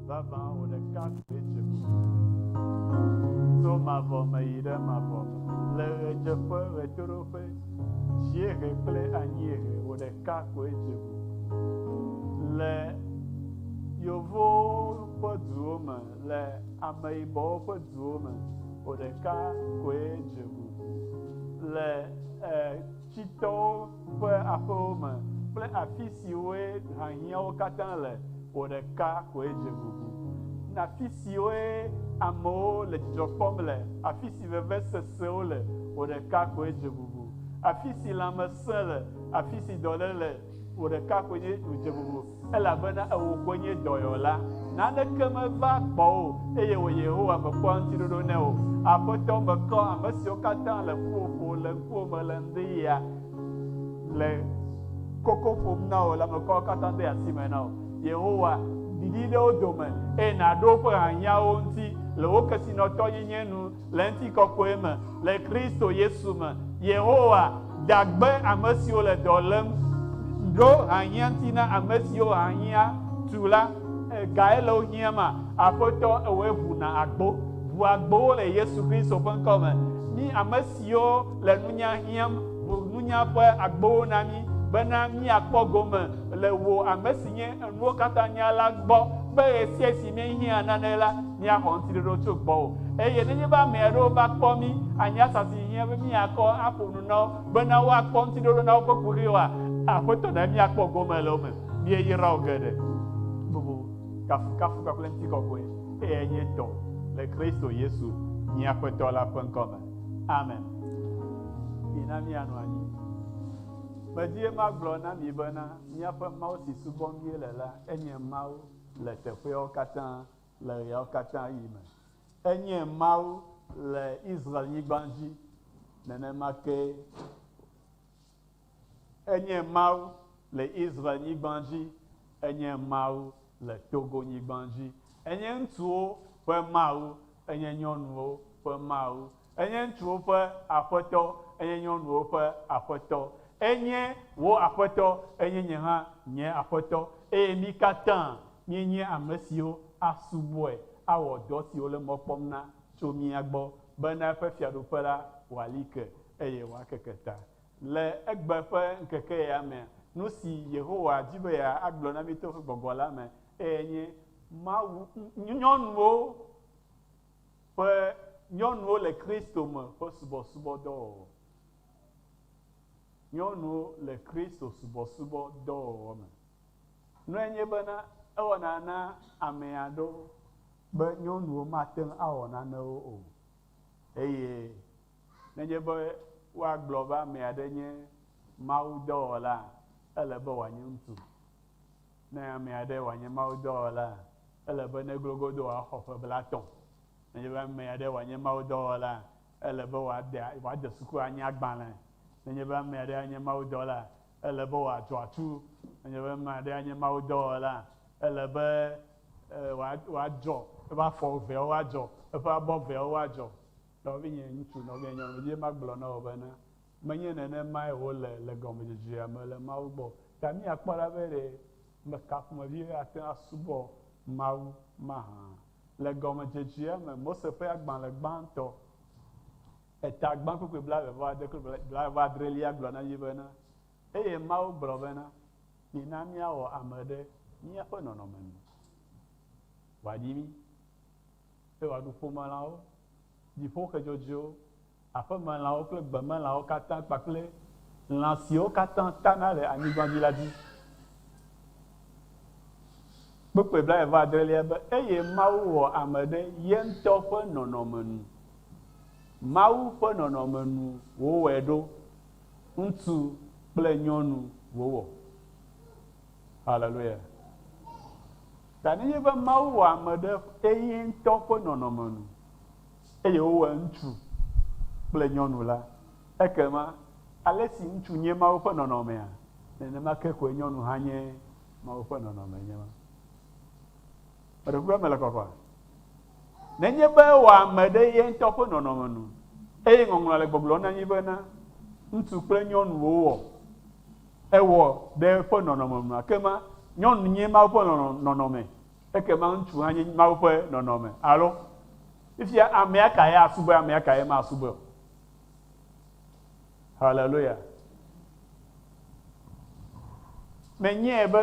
Vavã wò ɖeka koe dze ƒo. Tso mavɔ me yi ɖe mavɔ me. Le ɣedzeƒe, ɣetoɖoƒe, dziehe kple anyiehe, wò ɖeka koe dze ƒo. Le yevuwo ƒe duwo me, le ameyibɔwo ƒe duwo me, wò ɖeka koe dze ƒo. Le eh, tsitɔwo ƒe aƒewo me kple afi siwoe hahiãwo katã le o ɖeka koe dze gugu. Afi siwoe amewo le dzidzɔ kpɔm le, afi si vevesesewo le o ɖeka koe dze gugu. Afi si lãmesẽ le, afi si dɔléle le o ɖeka koe nye wòdze gugu. Elabena ewò koe nye dɔyɔla, naneke meva kpɔ wò, eye wò Yehowa mekpɔa ŋutiɖoɖo ne wò. Aƒetɔ, mekɔ ame siwo katã le ƒuƒoƒo le ŋkuwò me le ŋdiɣia le koko ƒom na wò la, mekɔ wo katã de asi me na wò. Yehowa, ɖiɖi ɖe wo dome, eye nàɖo woƒe hiahiãwo ŋuti le wò kesinɔtɔnyenye nu. le ŋutikɔkɔe me le Kristo Yesu me. Yehowa dagbe ame siwo le dɔ lém ɖo ahiã ŋuti na ame siwo ahiã tu la. Gae le wo hiãma? Aƒetɔ, ewɔe ʋu na agbo. Ʋu agbowo le Yesu Kristo ƒe ŋkɔ me. Mí ame siwo le nunya hiãm, ʋu nunya ƒe agbowo na mí, bena míakpɔ gome le wò, ame si nye Enuwo Katã Nyala gbɔ, be ɣesiaɣi si míehiã nane la, míaxɔ ŋutiɖoɖo tso gbɔwò. Eye nenye be ame aɖewo va kpɔ mí, anye asa si hiã be míakɔ aƒo nu na wo bena woakpɔ ŋutiɖoɖo na woƒe kuxiwoa? Aƒetɔ, ɖe míakpɔ gome le wo me. Míeyra wò geɖe. Bubu, kafukafu kpakple ŋutikɔkɔe eyae nye tɔwò, le Kristo Yesu, mía Aƒetɔ la ƒe ŋkɔ me. Amen. Mina míanɔ anyi. Medi be magblɔ na mi bena míaƒe Mawu si subɔm míele la enye Mawu le teƒeawo katã. Le ɣeawo katã ɣi me, enye Mawu le Israel-nyigba dzi, nenema kee Enye Mawu le Israel-nyigba dzi, Enye Mawu le Togo-nyigba dzi, Enye ŋutsuwo ƒe Mawu, Enye nyɔnuwo ƒe Mawu, Enye ŋutsuwo ƒe Aƒetɔ, enye nyɔnuwo ƒe Aƒetɔ. Enye wò Aƒetɔ, enye nye hã nye Aƒetɔ, eye mí katã míenye ame siwo asubɔe, awɔ dɔ si wòle mɔ kpɔm na tso mía gbɔ, bena eƒe Fiaɖuƒe la wòali ke, eye wòakeke ta. Le egbe ƒe ŋkeke ya mea, nu si Yehowa di be yeagblɔ na mí to eƒe gbɔgbɔ la me, eye enye Mawu, nyɔnuwo Ƒe Nyɔnuwo le Kristo Me ƒe Subɔsubɔdɔwɔwɔ Nyɔnuwo le Kristo subɔsubɔ dɔwɔwɔ me nɔe nye bena ewɔna na ame aɖewo be nyɔnuwo mate ŋu awɔ nanewo o, eye nenye be woagblɔ be ame aɖe nye mawudɔwɔlaa, ele be wòanye ŋutsu. Ne ame aɖe wòanye mawudɔwɔla, ele be neglo godoo wòaxɔ ƒe blatɔ̃. Nenye be ame aɖe wòanye mawudɔwɔla, ele be wòade, wòade suku anye agbalẽ. Nenye be ame aɖe anye mawudɔla, ele be wòatu atu. Nenye be ame aɖe anye mawudɔwɔla, ele be wòadzɔ eƒe afɔ eveawo woadzɔ, eƒe abɔ eveawo woadzɔ. Nɔvinye ŋutsu, nɔvinye nyɔnu, medi be magblɔ na wò bena, Menye nenemae wòle le gɔmedzedzea me le Mawu gbɔ o. Ɖe míakpɔ ɖa be ɖe meka ƒomevi aɖe ate ŋu asubɔ Mawu mahã? Le gɔmedzedzea me, Mose ƒe agbalẽ gbãtɔ, Etagbãkpekpe blaeve vɔ ade kple blaeve vɔ adrelia gblɔ na mí bena, Eye Mawu gblɔ bena, Mina míawɔ ame ɖe míaƒe nɔnɔme nu, wòaɖi mí, eye wòaɖu ƒomelãwo, dziƒoxe dzɔdzɔewo, aƒemelãwo kple gbemelãwo katã kpakple lã siwo katã tana le anyigba dzi la dzi. Kpukpui blaeve-adrelia be, Eye Mawu wɔ ame ɖe ye ŋutɔ ƒe nɔnɔme nu, Mawu ƒe nɔnɔme nu wòwɔe ɖo, ŋutsu kple nyɔnu wòwɔ. Haleluya! Ta nenye be Mawu wɔ ame ɖe eye ŋutɔ ƒe nɔnɔme nu, Eye wowɔe ŋutsu kple nyɔnu la. Ekema, ale si ŋutsu nye Mawu ƒe nɔnɔmea, nenema ke koe nyɔnu hã nye Mawu ƒe nɔnɔmee. Nye ma. Meɖe kuku be mele kɔkɔa? Nenye be ewɔa ame ɖe ye ŋutɔ ƒe nɔnɔme nu, eye Ŋɔŋlɔa le gbɔgblɔm na mí bena, Ŋutsu kple nyɔnu wòwɔ, ewɔ ɖe eƒe nɔnɔme nu, ekema, nyɔnu nye Mawu ƒe nɔnɔme. Ekema ŋutsu hã nye Mawu ƒe nɔnɔme alo? Fifia amea kae asubɔe amea kae masubɔe o. Haleluya. Menyae be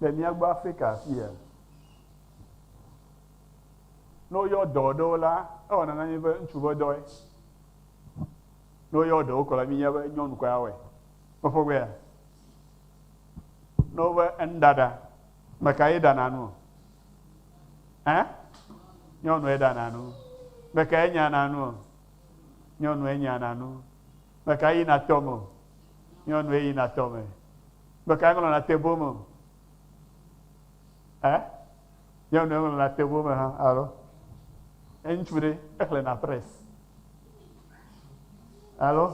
le mía gbɔ Afrika afi ya, ne woyɔ dɔ ɖewo la, ewɔna na mí be ŋutsu ƒe dɔe. Ne woyɔ ɖewo kɔ la, míenya be nyɔnu kɔe awɔe. Meƒogbea? Ne wove enu ɖaɖa, ame kae ɖana nu? Ɛ? Nyɔnue ɖana nu. Ame kae nyana nu? Nyɔnue nyana nu. Ame kae yina tɔme? Nyɔnue yina tɔme. Ame kae ŋlɔna te bom? Ɛ? Nyɔnu ɖe ŋlɔna table me hã alo? Ŋutsu ɖe exlẽna press alo?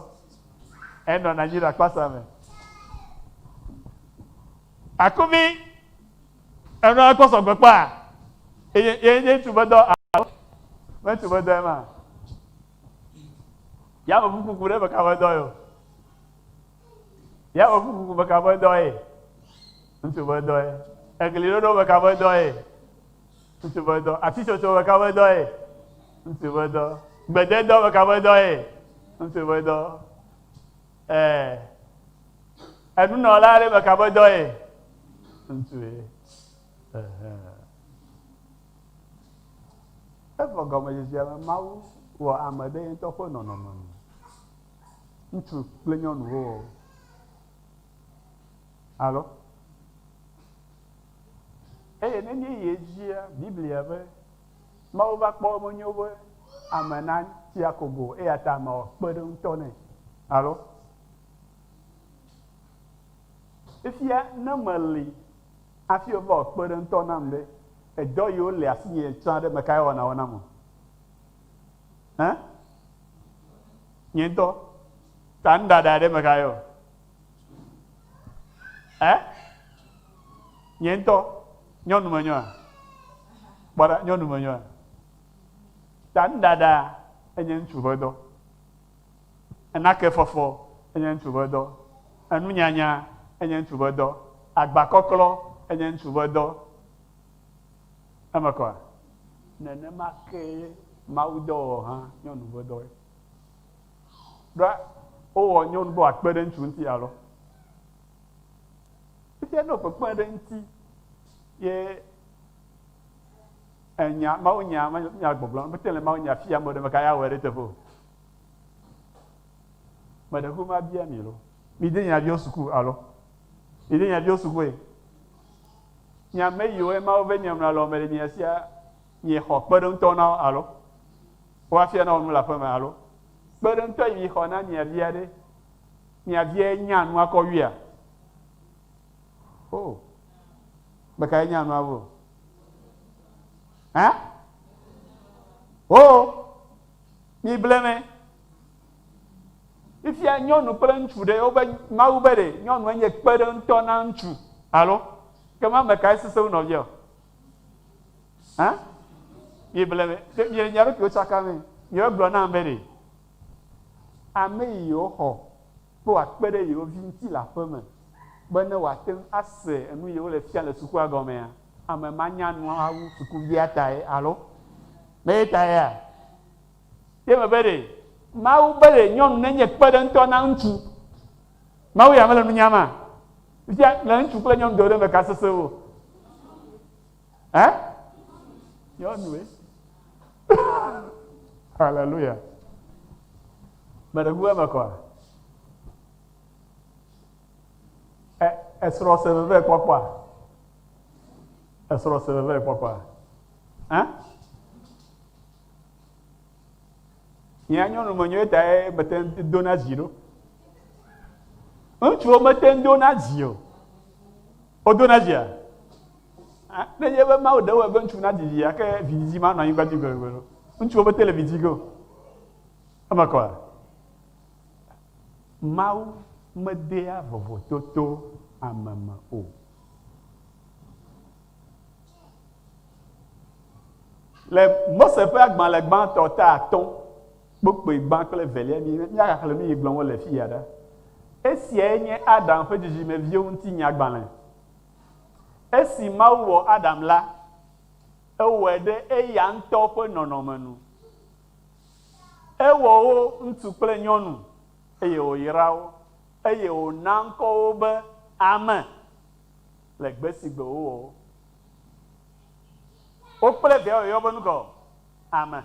Enɔna anyi ɖe akpasa me. Akuvi enɔna kpɔ sɔgbe kpɔa? Eye ye nye ŋutsu be dɔ alo? Ŋutsu be dɔe ma. Yameʋu kuku ɖe meka be dɔ yɔ. Yameʋu kuku meka ƒe dɔ ye? Ŋutsu ƒe dɔ ye. Egli ɖoɖo meka ƒe dɔ ye? Ŋutsu ƒe dɔ. Ati tsotso meka ƒe dɔ ye? Ŋutsu ƒe dɔ. Gbededɔ meka ƒe dɔ ye? Ŋutsu ƒe dɔ. Ɛɛ. Enunɔla aɖe meka ƒe dɔ ye? Ŋutsu ye. Evɔ gɔmedzedzea me Mawu wɔ ame ɖe ye ŋutɔ ƒe nɔnɔme me. Ŋutsu kple nyɔnuwo ɔ? Alo? Eye ne míeyi edzia, Biblia be, Mawu va kpɔ menyo be ame natsi akogo o, eya ta amea wɔ kpeɖeŋutɔ nɛ. Alo? Fifia ne meli hafi wova wɔ kpeɖeŋutɔ nam ɖe, edɔ yiwo le asinye tsã ɖe, mekae ewɔna wo nam o? Hã? Nye ŋutɔ. Ta nu ɖaɖa ɖe me xa yɔ. Ɛ? Nye ŋutɔ. Nyɔnu me nyɔa? Kpɔ ɖa, nyɔnu me nyɔa? Ta nu ɖaɖa enye ŋutsu ƒe dɔ. Enake fɔfɔ enye ŋutsu ƒe dɔ. Enu nyanya enye ŋutsu ƒe dɔ. Agba kɔklɔ enye ŋutsu ƒe dɔ. Eme kɔ. Nenema kee mawudɔwɔwɔ hã nye ŋuve dɔ. Ɖoa wowɔ nyɔnu be wòakpe ɖe ŋutsu ŋuti alo? Fifia ne wòkpekpe ɖe eŋuti ye enya mawunya nya gbɔgblɔ mete le mawunya fia ame ɖe meka ya wɔ ɖe teƒe o. Meɖe ku mabia mi lo. Mi de nyaviwo suku alo? Mi de nyaviwo sukue? Nye ame yiwo nye Mawu ve nye mla le wɔme le nyea sia, nye xɔ kpeɖeŋutɔ na wo alo? Wo afia na wo nu le aƒe me alo? Kpeɖeŋutɔ yi mi xɔ na mia via ɖe, mia viae nya nua kɔ wuia? O! Me kae nya nua wu o? Ã? O! Mi ble me. Fifia nyɔnu kple ŋutsu ɖe wobe Mawu be ɖe nyɔnue nye kpeɖeŋutɔ na ŋutsu alo? Ke ma ame kae sese wu nɔvia o? Hã? Mi ble me, ɖe mi le mia ɖokuiwo tsaka me. Mi wo gblɔ nam be ɖe ame yi yewo xɔ be woa kpe ɖe yewo vi ŋuti le aƒe me be ne woa teŋu ase enu yi wole fia le sukua gɔmea, ame ma nya nua wu sukuviatae alo? Meyetaea? Ye me be ɖe Mawu be ɖe nyɔnu nenye kpeɖeŋutɔ na ŋutsu. Mawu ya mele nu nyam a? Fifia le ŋutsu kple nyɔnu dome ɖe me ka sese wu o? Ɛ? Nyɔnue. Haleluya. Me ɖe ku eme kɔa? Ɛ, esrɔ̃ se veve kpɔkpɔa? Esrɔ̃ se veve kpɔkpɔa? Ɛ? Hiã nyɔnu menyo etae mete ŋu dona dzi ɖo. Ŋutsuwo mete ŋu dona dzi o. Wodona dzia? Ne nye be Mawu ɖe wɔe be ŋutsu nadzi vi ake vidzidzi manɔ anyigba dzi gbegbe ɖo. Ŋutsuwo mete le vidzi ge o. Eme kɔa? Mawu medea vovototo ame me o. Le Mose ƒe agbalẽ gbãtɔ ta atɔ̃, kpokpui gbã kple velia, míagaxlẽ nu yi gblɔm wole fi ya ɖa. Esiae nye Adam ƒe dzidzimeviwo ŋuti nyagbalẽ. Esi Mawu wɔ Adam la, ewɔe ɖe eya ŋutɔ ƒe nɔnɔme nu. Ewɔ wo ŋutsu kple nyɔnu, eye wòyra wo, eye wòna ŋkɔ wo be ame. le gbe si gbe wowɔ wo kple viawo yɔyɔ be nukɔ? Ame.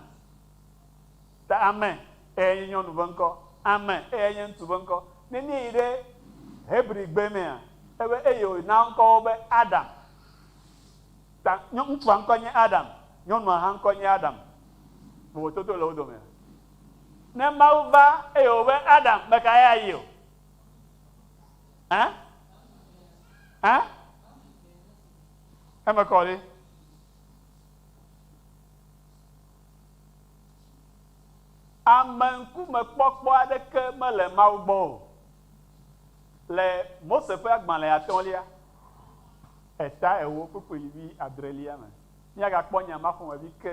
Ta ame eyae nye nyɔnu ƒe ŋkɔ. Ame eyae nye ŋutsu ƒe ŋkɔ. Ne míeyi ɖe Hebrigbe mea, ebe eye wòna ŋkɔ wo be Adam. Ta nyɔ, ŋutsua ŋkɔ nye Adam, nyɔnua hã ŋkɔ nye Adam. Vovototo le wo domea? Ne Mawu va eye wòbe Adam, mekae ayi o? Ã? Ã? Eme kɔ ɖe. Ame ŋkumekpɔkpɔ aɖeke mele Mawu gbɔ o. Le Mose ƒe agbalẽ atɔ̃lia, eta ewo kpukpuilvi adrelia me, míagakpɔ nya ma ƒomevi ke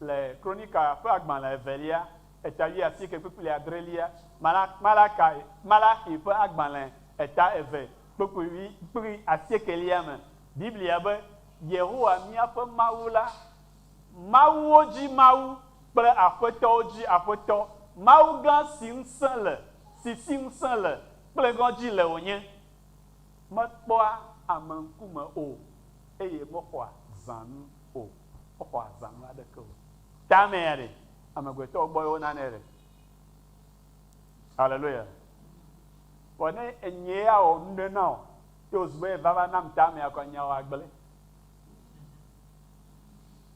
le Kronika ƒe agbalẽ evelia eta wui asieke kpukpli adrelia, Mala, Malakai, Malaxi ƒe agbalẽ eta eve kpukpui wui, kpukpli asiekelia me. Biblia be, Yehowa míaƒe Mawu la, mawuwo dzi Mawu kple aƒetɔwo dzi Aƒetɔ, Mawu gã si ŋusẽ le, si si ŋusẽ le kple ŋɔdzi le wònye. Mekpɔa ame ŋkume o, eye mexɔa zãnu o, mexɔa zãnu aɖeke o. Tamea ɖe, amegbetɔwo gbɔe wonanɛ ɖe? Haleluya. Vɔ ne enyee ya wɔ nu ɖe na wò, ye wòzu be vava nam tamea kɔ nya wɔ agblẽ.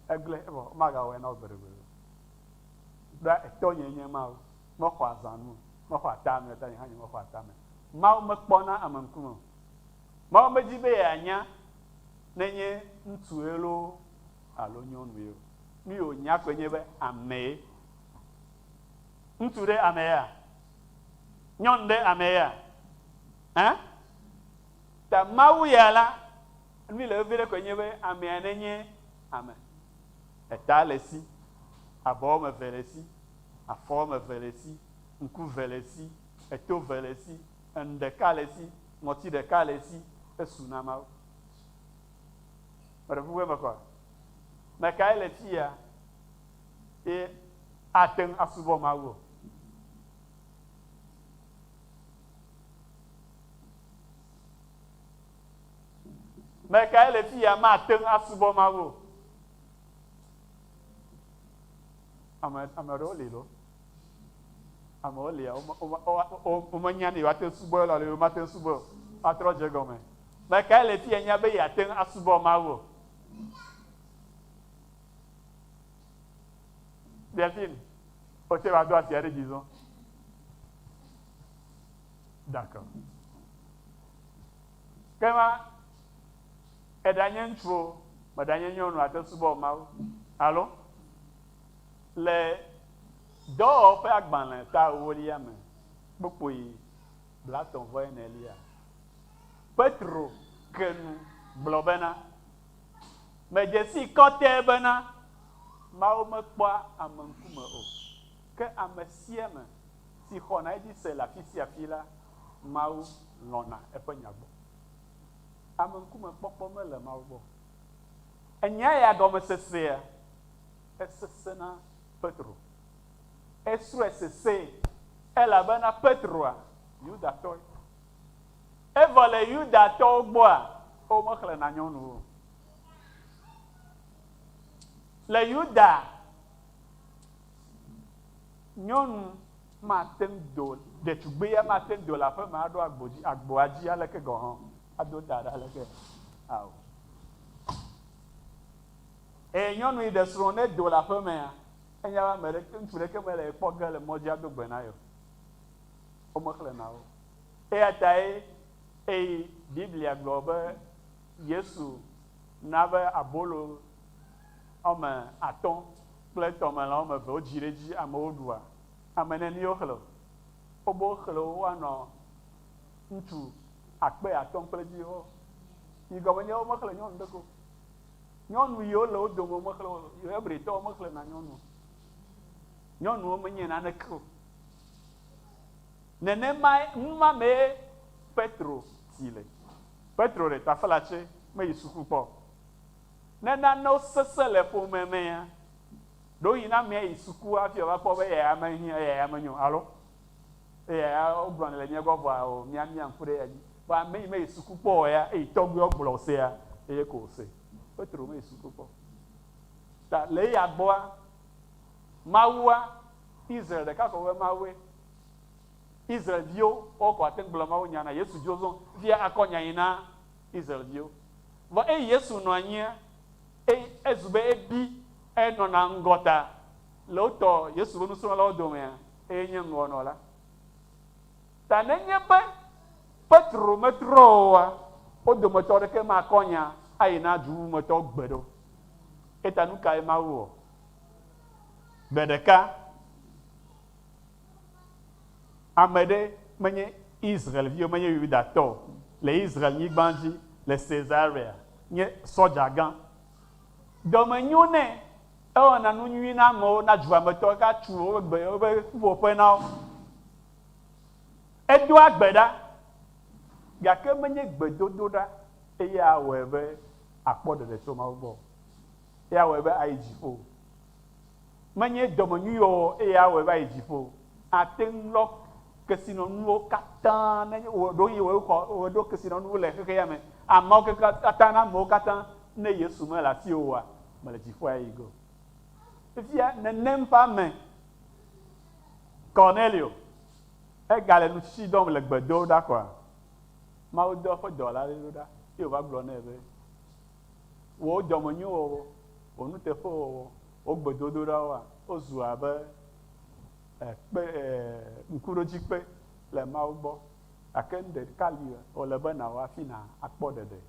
Egblẽ vɔ womagawɔe na wò gbeɖegbeɖe o. Ɖoa etɔnye nye Mawu. Mexɔa zãnu o. Mexɔa tamea o, ta nye hã nye mexɔa tamea o. Mawu mekpɔna ame ŋkume o. Mawu medi be yeanya ne nye ŋutsue loo alo nyɔnue o. Nu yi wònya koe nye be amee. Ŋutsu ɖe ameea? Nyɔnu ɖe ameea? Ẽ? Ta Mawu ya la, nu yi le vevi ɖe koe nye be amea nenye ame. Eta le esi, abɔ woame eve le esi, afɔ woame eve le esi, ŋku eve le esi, eto eve le esi, enu ɖeka le esi, ŋɔti ɖeka le esi, esu na Mawu. Meɖe kuku evefa me kae le fiya ye ate ŋu asubɔ Mawu? Me kae le fiya mate ŋu asubɔ Mawu? Ame ame aɖewo li lo. Amewo lia, womenya ne yewoate ŋu subɔ alo yewomate ŋu subɔe o. Woatrɔ dze egɔme be kae le fi enye be yeate ŋu asubɔ Mawu o. Delphine, wò tsɛ va do asi aɖe dzi zɔ. D'accord. Ke ma, eɖanye ŋutsu o, meɖanye nyɔnu o, àte ŋu subɔ Mawu. Alo? Le Dɔwɔƒe Agbalẽ ta ewolia me, kpukpui blatɔ̃ vɔ enelia, Petro ke nu gblɔ bena, Medze sii kɔtɛe bena Mawu mekpɔa ame ŋkume o, ke ame sia ame si xɔna edzi se le afi sia afi la, Mawu lɔ̃na eƒe nya gbɔ. Ame ŋkume kpɔkpɔ mele Mawu gbɔ o. Ènyae ya gɔmesesea? Esesẽ na Petro. Esrɔ̃e sesẽe, elabena Petroa, Yudatɔe. Evɔ le Yudatɔwo gbɔa, womexlẽna nyɔnu o. Le Yuda, nyɔnu mate ŋu do, ɖetugbui ya mate ŋu do le aƒeme aɖo agbo dzi, agboa dzi aleke gɔ̃ hã, ado ta ɖe aleke hã o. Eye nyɔnu yi ɖe srɔ̃ ne do le aƒe mea, enya be ame ɖeke, ŋutsu ɖeke mele ye kpɔ ge le mɔ dzi ado gbe na ye o. Womexlẽ na wo. Eya tae eye Biblia gblɔ be Yesu na be abolo wɔme atɔ̃ kple tɔmelã wɔme eve wodzi ɖe edzi amewo ɖua. Ame neni woxlẽ o? Wobe woxlẽ wo woanɔ ŋutsu akpe atɔ̃ kple viwo. Yi gɔme nye be womexlẽ nyɔnu ɖeke o. Nyɔnu yiwo le wo dome womexlẽ wo o. Hebritɔwo mexlẽna nyɔnu o. Nyɔnuwo menye naneke o. Nenemae nu ma mee Petro ti le. Petro ɖe tafela tsɛ meyi suku kpɔ o. Ne nanewo sesẽ le ƒome mea, ɖewohĩ na amea yi suku hafi wòava kpɔ be eya ya menyo, alo Eya ya wogblɔ nɛ le mía gbɔ vɔa o mía mía ŋku ɖe anyi. Vɔa ame yi meyi suku kpɔ o ya eyi tɔgbuiwo gblɔ wosea eye ko wose. Petro meyi suku kpɔ o. Ta le eya gbɔa Mawua Israel ɖeka ko be Mawue. Israel viwo wo ko ate ŋu gblɔ Mawu nya na Yesu viwo zɔn via akɔ nya yi na Israel viwo. Vɔ eyi Yesu nɔ anyia eyi ezu be ebi enɔna ŋgɔ ta le wotɔ Yesu be nusrɔlawo domea eye nye ŋlɔ nɔ la ta. Nenye be Petro metrɔ oa, wo dometɔ aɖeke makɔ nya ayi na du bubu me tɔwo gbeɖe o. Eyata nukae Mawu wɔ? Gbe ɖeka, ame ɖe menye Israel-vi o, menye Yudatɔ o, le Israel-nyigba dzi le Cesarea nye sɔdzagã. Dɔ me nyo nɛ. Ewɔna nu nyui na amewo, na dua me tɔwo, gake atu woƒe gbe, woƒe ƒuƒoƒe na wo. Edoa gbe ɖa, gake menye gbedodoɖa eye awɔe be akpɔ ɖeɖe tso Mawu gbɔ o, eye awɔe be ayi dziƒo o. Menye dɔmenyuiwɔwɔ eye awɔe be ayi dziƒo o. Ate ŋu lɔ kesinɔnuwo katã ne wò ɖoŋue wòe xɔ, wòe ɖo kesinɔnuwo le xexeame, ameawo kekeakatã na amewo katã ne Yesu mele asiwò oa? Mele dziƒoa yi go. Fifia nenem ƒe ame, Kornelio, egale nutsitsi dɔm le gbedoɖa koa? Mawu dɔ eƒe dɔla aɖe ɖo ɖa, eye wòva gblɔ nɛ be, Wò dɔmenyowɔwɔ, wò nuteƒewɔwɔ, wò gbedodoɖawoa, wozu abe eh, kpe, eh, ŋkuɖodzikpe le Mawu gbɔ, gake nuɖeka li wòle be nàwɔ hafi nàkpɔ ɖeɖe.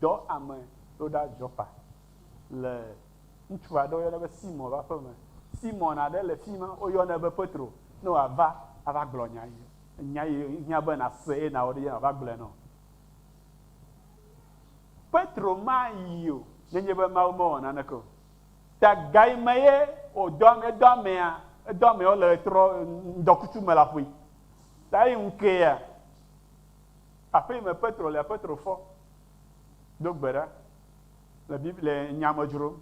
Dɔ ame ɖo ɖa Jɔpa le ŋutsu aɖe woyɔna be Simɔ ƒe aƒe me. Simɔn aɖe le fi ma, woyɔnɛ be Petro, ne wòava ava gblɔ nya yi, nya yi hiã be nàse eye nàwɔ ɖe edzi mava gblɔe na wò. Petro mayi o, nenye be Mawu mewɔ naneke o. Ta gai me ye wòdɔ ame, edɔ amea, edɔ amewo le ɣetrɔ, ŋdɔkutsu me le aƒui. Ta eyi ŋu kea, Aƒe yi me Petro le Petro fɔ do gbe ɖa le Biblia le nya me dzrom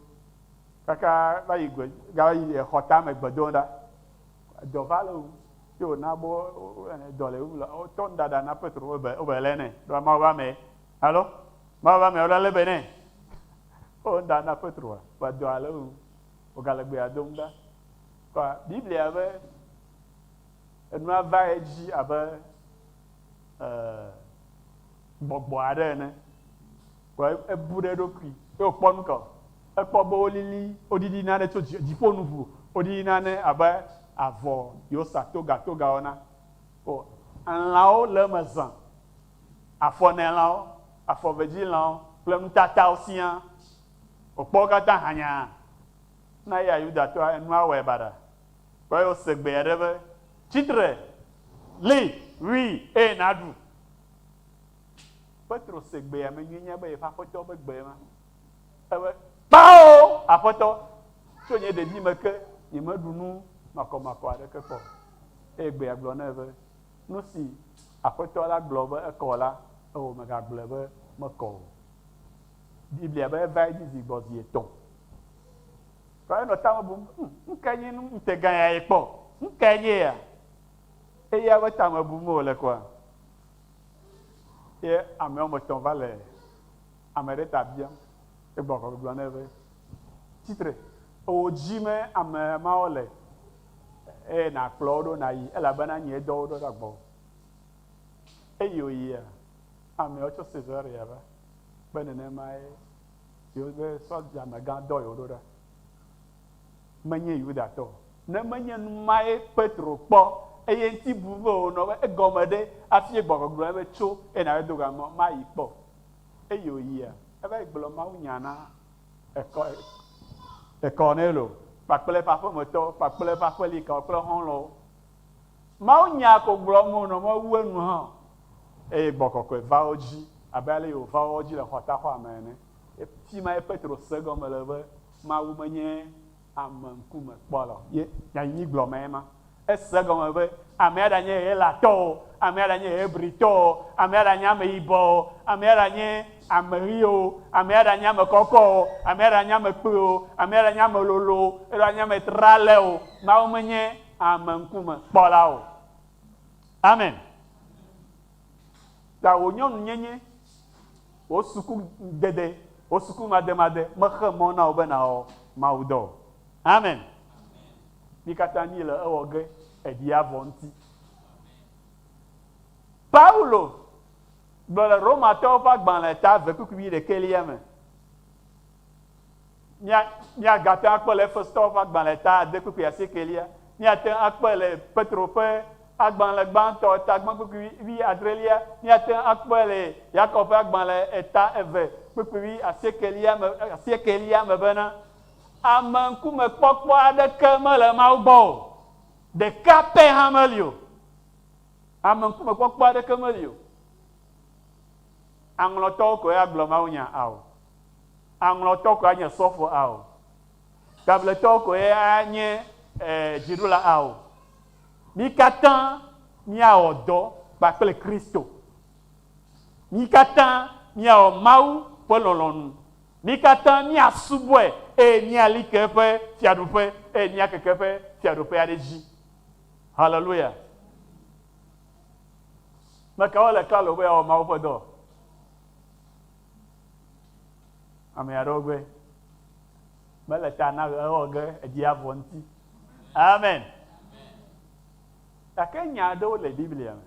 kaka va yi gbe gava yi exɔ tame gbe dom ɖa. Dɔ va le wu ye wòna be dɔ le wu la wotɔ nu ɖaɖa na Petro wobe wobe lé nɛ ɖo Mawu ƒe ame ye. Alo Mawu ƒe ame wole lé be nɛ. Wo nu ɖa na Petroa va dɔa le wu wògale gbea dom ɖa. Kɔ Biblia be. Enua va edzi abe e gbɔgbɔ aɖe ene. Vɔ ebu ɖe eɖokui ye wòkpɔ nu ka o? Ekpɔ be wolili, woɖiɖi nane tso dzi, dziƒo nu ʋu. Woɖiɖi nane abe avɔ yi wosa togatogawo na. O, elãwo le eme zã. Afɔnɛlãwo, afɔvedzilãwo kple nutatawo siaa. Wòkpɔ wo katã hanyaa. Na eya Yudatɔa, enua wɔe baɖa. Kpɔe wòse gbe aɖe be, Tsi tre, li, wui, eye nàɖu. Petro se gbea me nyuie nya be yeƒe Aƒetɔ ƒe gbe ma. Ebe, Kpao, Aƒetɔ, tso nye ɖevime ke nyemeɖu nu makɔmakɔ aɖeke kpɔ o. Eye gbea gblɔ nɛ be, Nu si Aƒetɔ la gblɔ be ekɔ la, ewɔ mègagblɔe be mekɔ o. Biblia be eva edzi zi gbɔ zi etɔ̃. Vɔ enɔ ta me bum, Ŋ, nukae nye nu ŋutegã ya yekpɔ? Nukae nye ya? Eya ƒe ta me bum wòle kɔa? Ye ame woame etɔ̃ va le ame ɖe ta biam. Egbɔ kɔ gblɔ nɛ be, Tsi tre, ewò dzi me ame mawo le, eye nàkplɔ wo ɖo nàyi, elabena nyee dɔ wo ɖo va gbɔwò. Eye wòyia, amewo tso Cesarea va, kpe nenemae Yewo be, Sɔdja megã dɔ yewo ɖo ɖa. Menye Yudatɔ o. Ne menye numae Petro kpɔ, eye ŋti bu be wònɔ wo be, Egɔme ɖe? Afie gbɔgbɔ gblɔ nɛ be, Tso, eye nàva do ga mɔ mayi kpɔ o. Eye wòyia, eva yi gblɔ mawunya na Kɔrnelio kpakple eƒe aƒemetɔwo kpakple eƒe aƒelikawokple xɔlɔwo. Mawunya ko gblɔm wonɔ mewu enu hã o. Eye gbɔgbɔ kɔkɔe va wo dzi abe ale yi wòva woawo dzi le xɔtaxɔa me ene. Fi mae Petro se egɔme le be Mawu menye ame ŋkume kpɔla o, ye nyanyuigblɔmee ma. Ese egɔme be amea ɖanye Helatɔ o, amea ɖanye Hebritɔ o, amea ɖanye ameyibɔ o, amea ɖanye ameɣi o, amea ɖanye ame kɔkɔ o, amea ɖanye ame kpui o, amea ɖanye ame lolo o, alo anye ame tralé o, Mawu menye Ame ŋkume kpɔla o. Amen. Ta wò nyɔnu nyenye, wò suku dede, wò suku made made me xe mɔ na wò be na wɔ Mawu dɔ o. Amen. Mi kata mi le ewɔ ge eɖi a vɔ ŋti. Paulo gblɔ le Romatɔwo ƒe agbalẽ ta ve kpukpui ɖekɛ lia me Mía, míagate ŋu akpɔe le Efesotɔwo ƒe agbalẽ ta adekpukpui asiekɛlia. Míate ŋu akpɔe le Petro ƒe agbalẽ gbãtɔ ta gbãkpukpui wui adrelia. Míate ŋu akpɔe le Yakob ƒe agbalẽ eta eve kpukpui wui asiekɛlia me, asiekɛlia me bena, Ame ŋkumekpɔkpɔ aɖeke mele Mawu gbɔ o, ɖeka pɛ hã meli o. Ame ŋkumekpɔkpɔ aɖeke meli o. Aŋlɔtɔwo koe agblɔ mawunya ao. Aŋlɔtɔ koe anye sɔfo ao. Tabletɔ koe anye dziɖula ao. Mí katã míawɔ dɔ kpakple Kristo. Mí katã míawɔ Mawu ƒe lɔlɔ̃nu. Mí katã míasubɔe eye míali ke eƒe Fiaɖuƒe eye míakeke eƒe Fiaɖuƒea ɖe edzi. Haleluya! Ame kawo le klalo be yeawɔ Mawu ƒe dɔ? Ame aɖewo gbe mele ta na ewɔ ge edzi avɔ ŋuti. Amen. Gake nya aɖewo le Biblia me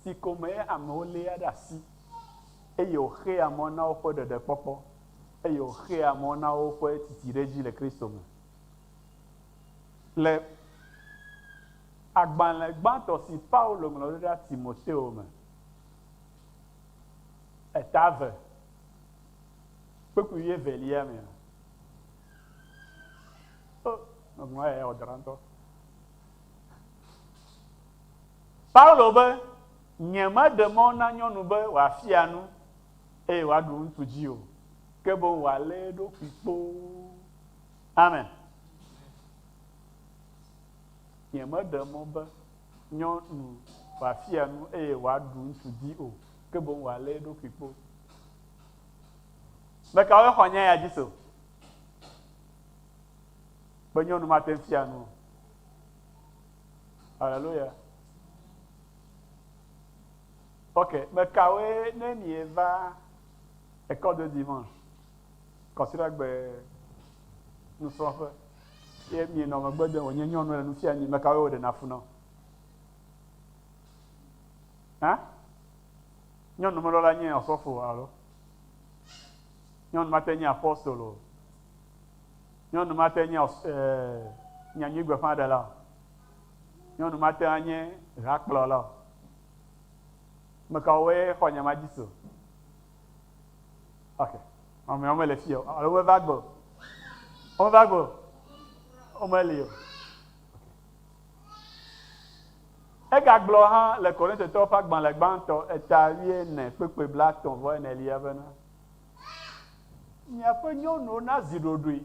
si kɔme amewo léa ɖe asi eye wòxea mɔ na woƒe ɖeɖekpɔkpɔ eye wòxea mɔ na woƒe titi ɖe edzi le Kristo me. Le agbalẽ gbãtɔ si Paulo ŋlɔ ɖo ɖa Timoteo me Eta eve, kpukpui wuievelia mea, o, meŋlɔ eya wòdɔ ɖa ŋutɔ. Paulo be, Nyemeɖe mɔ na nyɔnu be wòafia nu eye wòaɖu ŋutsu dzi o, ke boŋ wòalé eɖokui kpoo. Amen. Nyemeɖe mɔ be nyɔ nu wòafia nu eye wòaɖu ŋutsu di o, ke boŋ wòalé eɖokui kpo. Ame kawoe xɔ nya ya dzi se be nyɔnu mate ŋu fia nu o? Aleluya. Ok, ame kawoe ne mieva ekɔdodi mɔ? Kɔsiɖagbe nusrɔ̃ƒe ye mienɔ megbe dem wònye nyɔnu le nu fia mi, mekawoe wòɖena fu nɔ? Hã? Nyɔnu melɔ la nye ɔsɔfo alo? Nyɔnu mate nye apostol o. Nyɔnu mate nye ɔs, e, nyanyui gbeƒãɖela o. Nyɔnu mate anye hakplɔla o. Mekawoe xɔ nya ma dzi so? Ok. Mamea wome le fia o. Alo wome va gbɔ. Wome va gbɔ. Wome li o. Ega gblɔ hã le Korinthe tɔwo ƒe agbalẽ gbãtɔ eta wui ene kpekpe bla tɔ̃ vɔ ene lia bena, Miaƒe nyɔnuwo na zi ɖoɖoe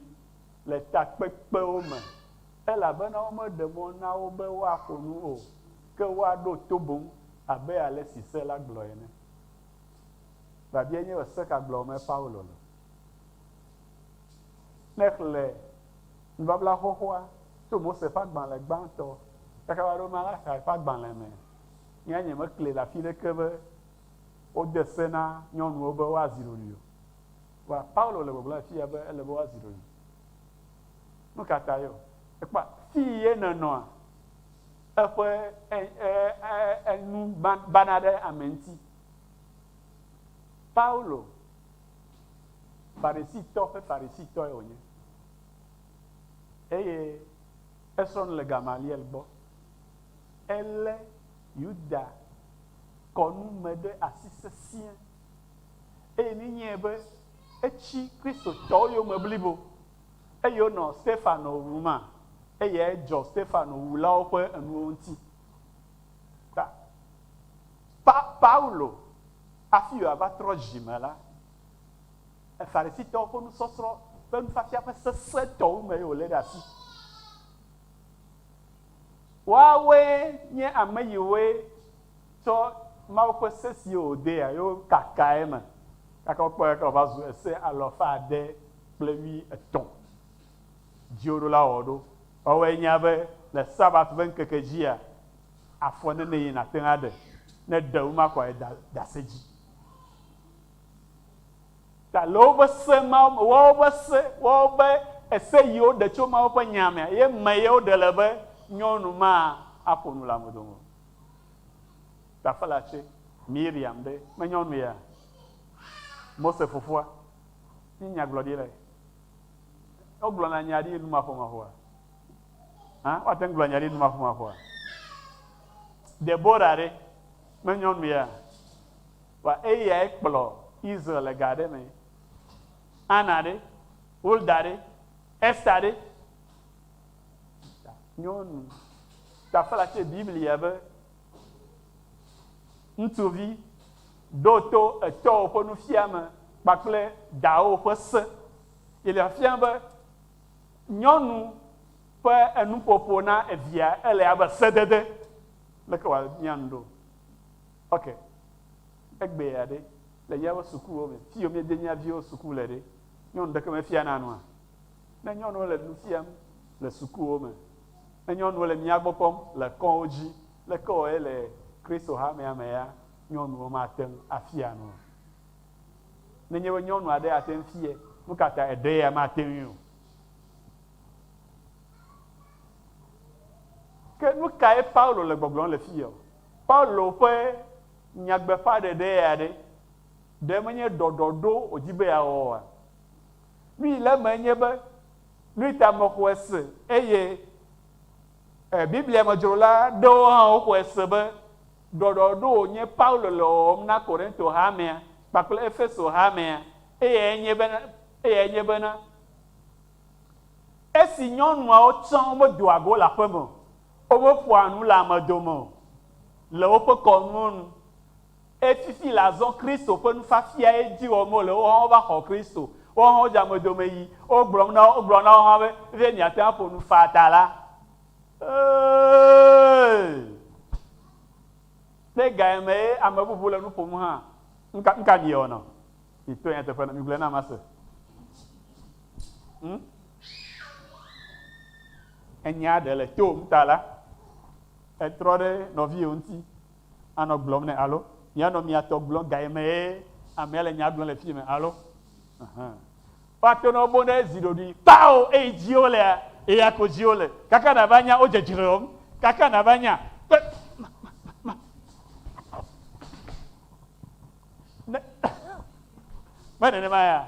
le takpekpewo me, elabena wome ɖe mɔ na wo be woaƒo nu o, ke woaɖo to boŋ abe ale si se la gblɔe ene. Biabia nye be se ka gblɔmee Paulo le? Ne èxlẽ Nubabla Xoxoa tso Mose ƒe agbalẽ gbãtɔ kaka va ɖo Malakae ƒe agbalẽ me, nye ya nyemekli le afi ɖeke be wode se na nyɔnuwo be woazi ɖoɖoe o. Vɔa Paulo le gbɔgblɔm afia be ele be woazi ɖoɖoe. Nu ka tae? Ekpɔa, fii ye nènɔa? Eƒe enu bana ɖe ame ŋuti. Paulo, Farisitɔ ƒe Farisitɔe wònye, eye esrɔ̃ nu le Gamaliel gbɔ. Elé Yuda-kɔnu me ɖe asi sesĩe, eye nenye be etsi Kristotɔwo yome blibo, Eye wonɔ Stefano wum, eye edzɔ Stefano wulawo ƒe enuwo ŋuti. Ta, Pa, Paulo, hafi wòava trɔ dzi me la, Farisitɔwo ƒe nusɔsrɔ̃ ƒe nufiafia ƒe sesẽtɔwo mee ye wòlé ɖe asi. Woawoe nye ame yiwoe. tsɔ Mawu ƒe se siwo wòdea ye wokakaa eme, gake wokpɔe gake wòva zu ese alafa ade kple wuietɔ̃. Dziwòɖola wɔ ɖo woawɔe nya be le Sabat ƒe ŋkeke dzia, afɔ nenee nàte ŋu aɖe, ne ɖe womakɔe da ɖe ase dzi ta. Le woƒe se mawo me, woawo ƒe se, woawo ƒe ese yi woɖe tso Mawu ƒe Nyaa mea, ye me ye woɖe le be nyɔnu ma aƒo nu le ame dome o. Ɖaƒela tsɛ, Miriam ɖe menyɔ nu ya? Mose fofoa? Nye nyagblɔɖilae. Wogblɔna nya ɖi numaƒomaƒoa? Hã? Woate ŋu gblɔ nya ɖi numaƒomaƒoa? Debora ɖe menyɔ nu ya? Wa eyae kplɔ Israel le ga aɖe me. Ana ɖe? Hulda ɖe? Ester ɖe? Nyɔnu tafla tse Biblia be, Ŋutsuvi, ɖo to etɔwo ƒe nufiame kpakple dawò ƒe se. Biblia fia be nyɔnu ƒe enuƒoƒo na evia ele abe sedede. Leke wòabiã nu ɖo? Ok, egbea ɖe, le míaƒe sukuwo me, fiyi miede mía viwo suku le ɖe, nyɔnu ɖeke mefiana nua? Ne nyɔnuwo le nu fiam le sukuwo me, ne nyɔnuwo le mía gbɔ kpɔm le kɔwo dzi, leke wɔe le Kristo hamea mea? Nyɔnuwo mate ŋu afia nu o. Nenye be nyɔnu aɖe ate ŋu fiae, nu ka ta eɖe ya mate ŋui o? Ke nu kae Paulo le gbɔgblɔm le fiya o? Paulo ƒe nyagbeƒãɖeɖe ya ɖe, ɖe menye ɖɔɖɔɖo wòdi be yeawɔ oa? Nui le eme nye be nui ta mexɔe se eye e Biblia me dzrola ɖewo hã woxɔe se be ɖɔɖɔɖo wònye Paulo le wɔwɔm na Korinto hamea kpakple Efeso hamea. Eyae nye bena, eyae nye bena, esi nyɔnuawo tsã womedoa go le aƒeme o, womeƒoa nu le ame dome o le woƒe kɔnuwo nu, Efifi le azɔ Kristo ƒe nufiafiae dzi wɔm wole, woawo hã wova xɔ Kristo, woawo hã wodze amedome yi, wogblɔm na wo, wogblɔ na wo hã be, vie miate ŋu aƒo nu faa ta la, ee, ne gaye me ye ame bubu le nu ƒom hã, nuka, nuka miewɔ nɔ? Mito nyateƒe na, migblɔe nam mase. Hm? Enyea ɖe le tom ta la, etrɔ ɖe nɔviwò ŋuti. anɔ gblɔm nɛ alo mianɔ mia tɔ gblɔm gaye mee amea le nya gblɔm le fiye me alo ahan. Woato nɔ bo ɖe zi ɖoɖui kpao eyi dziwo lea eya ko dziwo le kaka nava nya wo dzedzreom kaka nava nya kpe ma ma ma ne me nenema ya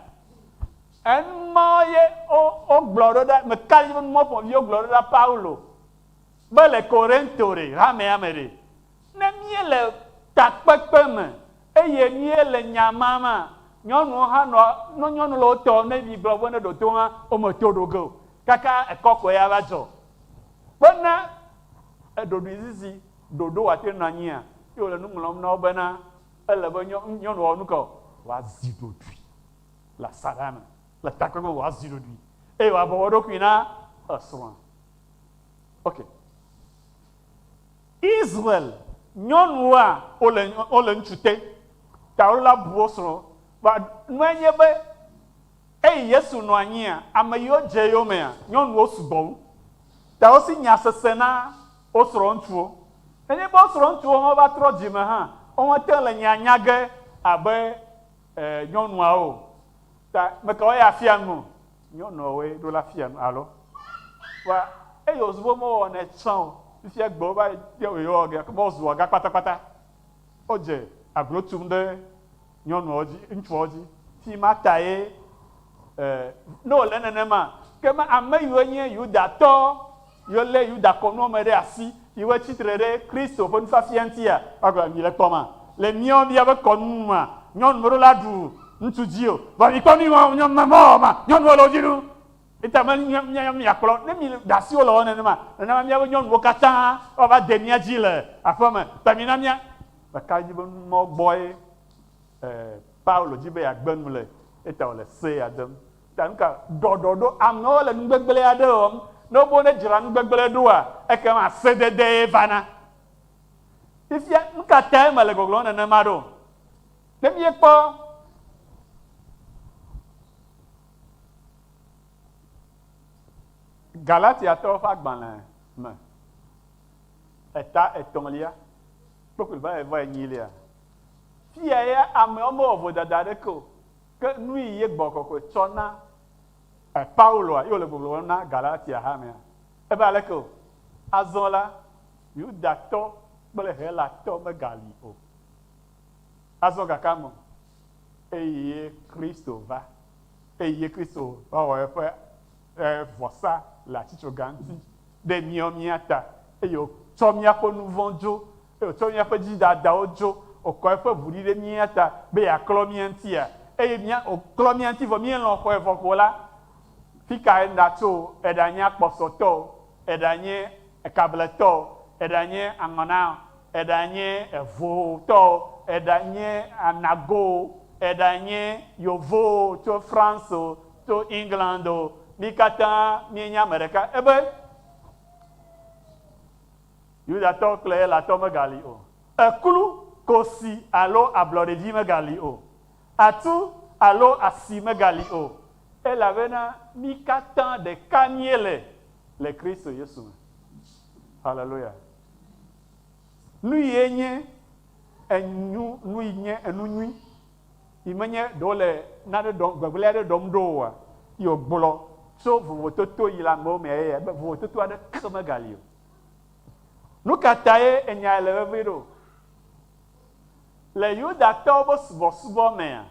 enumɔ ye wo wo gblɔ ɖo ɖa me kali be numɔ fɔviwo gblɔ ɖo ɖa Paulo. Be le Korinto ɖe, hamea me ɖe, ne míele takpekpe me eye míele nya mam a, nyɔnuwo hã nɔ, nɔ nyɔnu le wo tɔ, ne migblɔ be ne ɖo to hã wo me to ɖo ge o, kaka ekɔ koe ava dzɔ. Be ne eɖoɖoezizi ɖoɖo woate nɔ anyi a, ye wòle nu ŋlɔm na wo bena, ele be nyɔ, nyɔnu wɔ nu ka o? Wòazi ɖoɖoe le asaɖa me, le takpekpe me wòazi ɖoɖoe eye wòabɔbɔ eɖokui na esrɔ̃a. Ok. Israel nyɔnua wole wole ŋutsu te ta wola bu wo srɔ kpa nue nye be eyi Yesu nɔ anyia ame yiwo dze eyo mea nyɔnuwo sugbɔ wu ta wosi nya sese na wo srɔ ŋutsuwo nenye be wo srɔ ŋutsuwo hã va trɔ dzime hã wo me te le nya nya ge abe e nyɔnuawo ta meka wo ya fia nu Nyɔnuawoe ɖo la fia nu alo? Vɔa eyi wozu vɔ me wɔwɔ nɛ tsã o. Fifia gbe wova yɔ wòyi wɔ ge kema wozu wɔ ga kpata kpata. Wodze aglo tum ɖe nyɔnuawo dzi, ŋutsuawo dzi. Fima ta ye e ne wòle nenema. Kema ame yiwo nye Yudatɔ. Yio lé Yuda kɔnuɔ me ɖe asi yi wo tsi tre ɖe Kristo ƒe nufiafia ŋutia? Ɔgɔ, mi le kpɔ ma? Le miɔ mia be kɔnu nu ma, nyɔnu me ɖo la ɖu ŋutsu dzi o. Vɔ mi kpɔ nu yi ma wɔ nyɔnu ma mɔ wɔ ma, nyɔnuɔ le wo dzi nu. Eta me nyi mia ya mia kplɔ ne mi le ɖa si wo le wɔ nene ma. Nene ma mia be nyɔnuwo katã wa va de mia dzi le aƒe me. Ta mi na mia. Ɖe ka dzi be nu mɔ gbɔe e Paulo dzi be ya gbe nu le? Eta wo le se ya dem. Gake ɖɔɖɔɖo amewo le nu gbegblẽ aɖe wɔm. Ne wobe wonedzra nu gbegblẽ ɖoa, ekema sededee vana. Fifia, nu ka tae mele gbɔgblɔm nenema ɖo? Ne míekpɔ Galatiatɔwo ƒe agbalẽ me eta etɔ̃lia kple kple ƒe enyilia, fiya ya amewo mewɔ vodada aɖeke o. Ke nui ye gbɔgbɔ kɔkɔe tsɔ na Pauloa ye wòle gbɔgblɔ wɔm na Galatia hamea? Ebe aleke o. Azɔ la, Yudatɔ kple Helatɔ megali o. Azɔ gake ame o. Eye Kristo va. Eye Kristo va wɔ eƒe vɔsa le atsitsoga ŋuti ɖe míawo mía ta, eye wòtsɔ míaƒe nuvɔ̃ dzo To míaƒe dzidadawo dzo wòkɔ eƒe ʋu ɖi ɖe mía ta be yeaklɔ mía ŋutia, eye mía, wòklɔ mía ŋuti vɔ míelɔ̃ xɔe vɔ ko la, fi kae ŋɖatso o? Eɖanye akpɔsɔtɔ o, eɖanye ekabletɔ o, eɖanye aŋɔna o, eɖanye evotɔ o, eɖanye anago o, eɖanye yovo o, tso France o, tso England o, mí katã míenye ame ɖeka. Ebe, Yudatɔ kple Helatɔ megali o. Ekplu, kosi alo ablɔɖedzi megali o. Atu alo asi megali o, elabena mí katã ɖeka míele le Kristo Yesu me. Haleluya! Nuyie nye enu, nui nye enu nyui yi menye ɖe wole nane ɖɔm, gbegblẽ aɖe ɖɔm ɖo oa? Yi wògblɔ tso vovototo yi le amewo mea? Yeye be, Vovototo aɖeke megali o. Nu ka tae enyae le vevie ɖo? Le Yudatɔwo ƒe subɔsubɔ mea,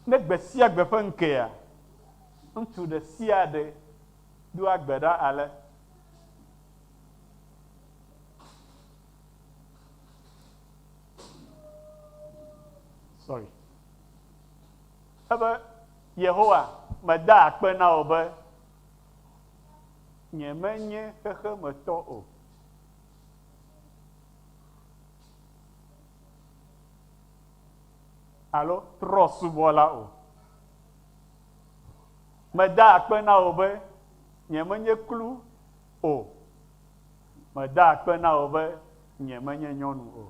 ne gbe sia gbe ƒe ŋkea, ŋutsu ɖe sia ɖe doa gbe ɖa ale, Sorry. Ebe, Yehowa, medaa akpe na wò be Nyemenye xexe me tɔ o. Alo trɔ̃subɔla o. Meda akpe na wò be nyemenye kplu o. Meda akpe na wò be nyemenye nyɔnu o.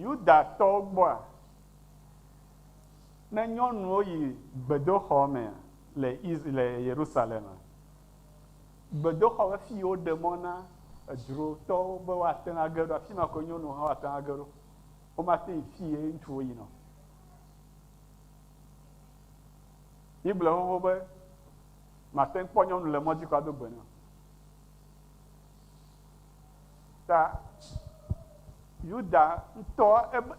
Yudatɔwo gbɔa, Ne nyɔnuwo yi gbedoxɔ me le Isr le Yerusalem, gbedoxɔ ƒe fi woɖe mɔ na edzrotɔwo be woate ŋu age ɖo, afi ma koe nyɔnuwo hã woate ŋu age ɖo. Womate yi fi ye ŋutsuwo yina o. Míegblɔe xoxo be màte ŋu kpɔ nyɔnu le mɔ dzi kɔ ado gbe nɛ o. Ta Yuda ŋutɔ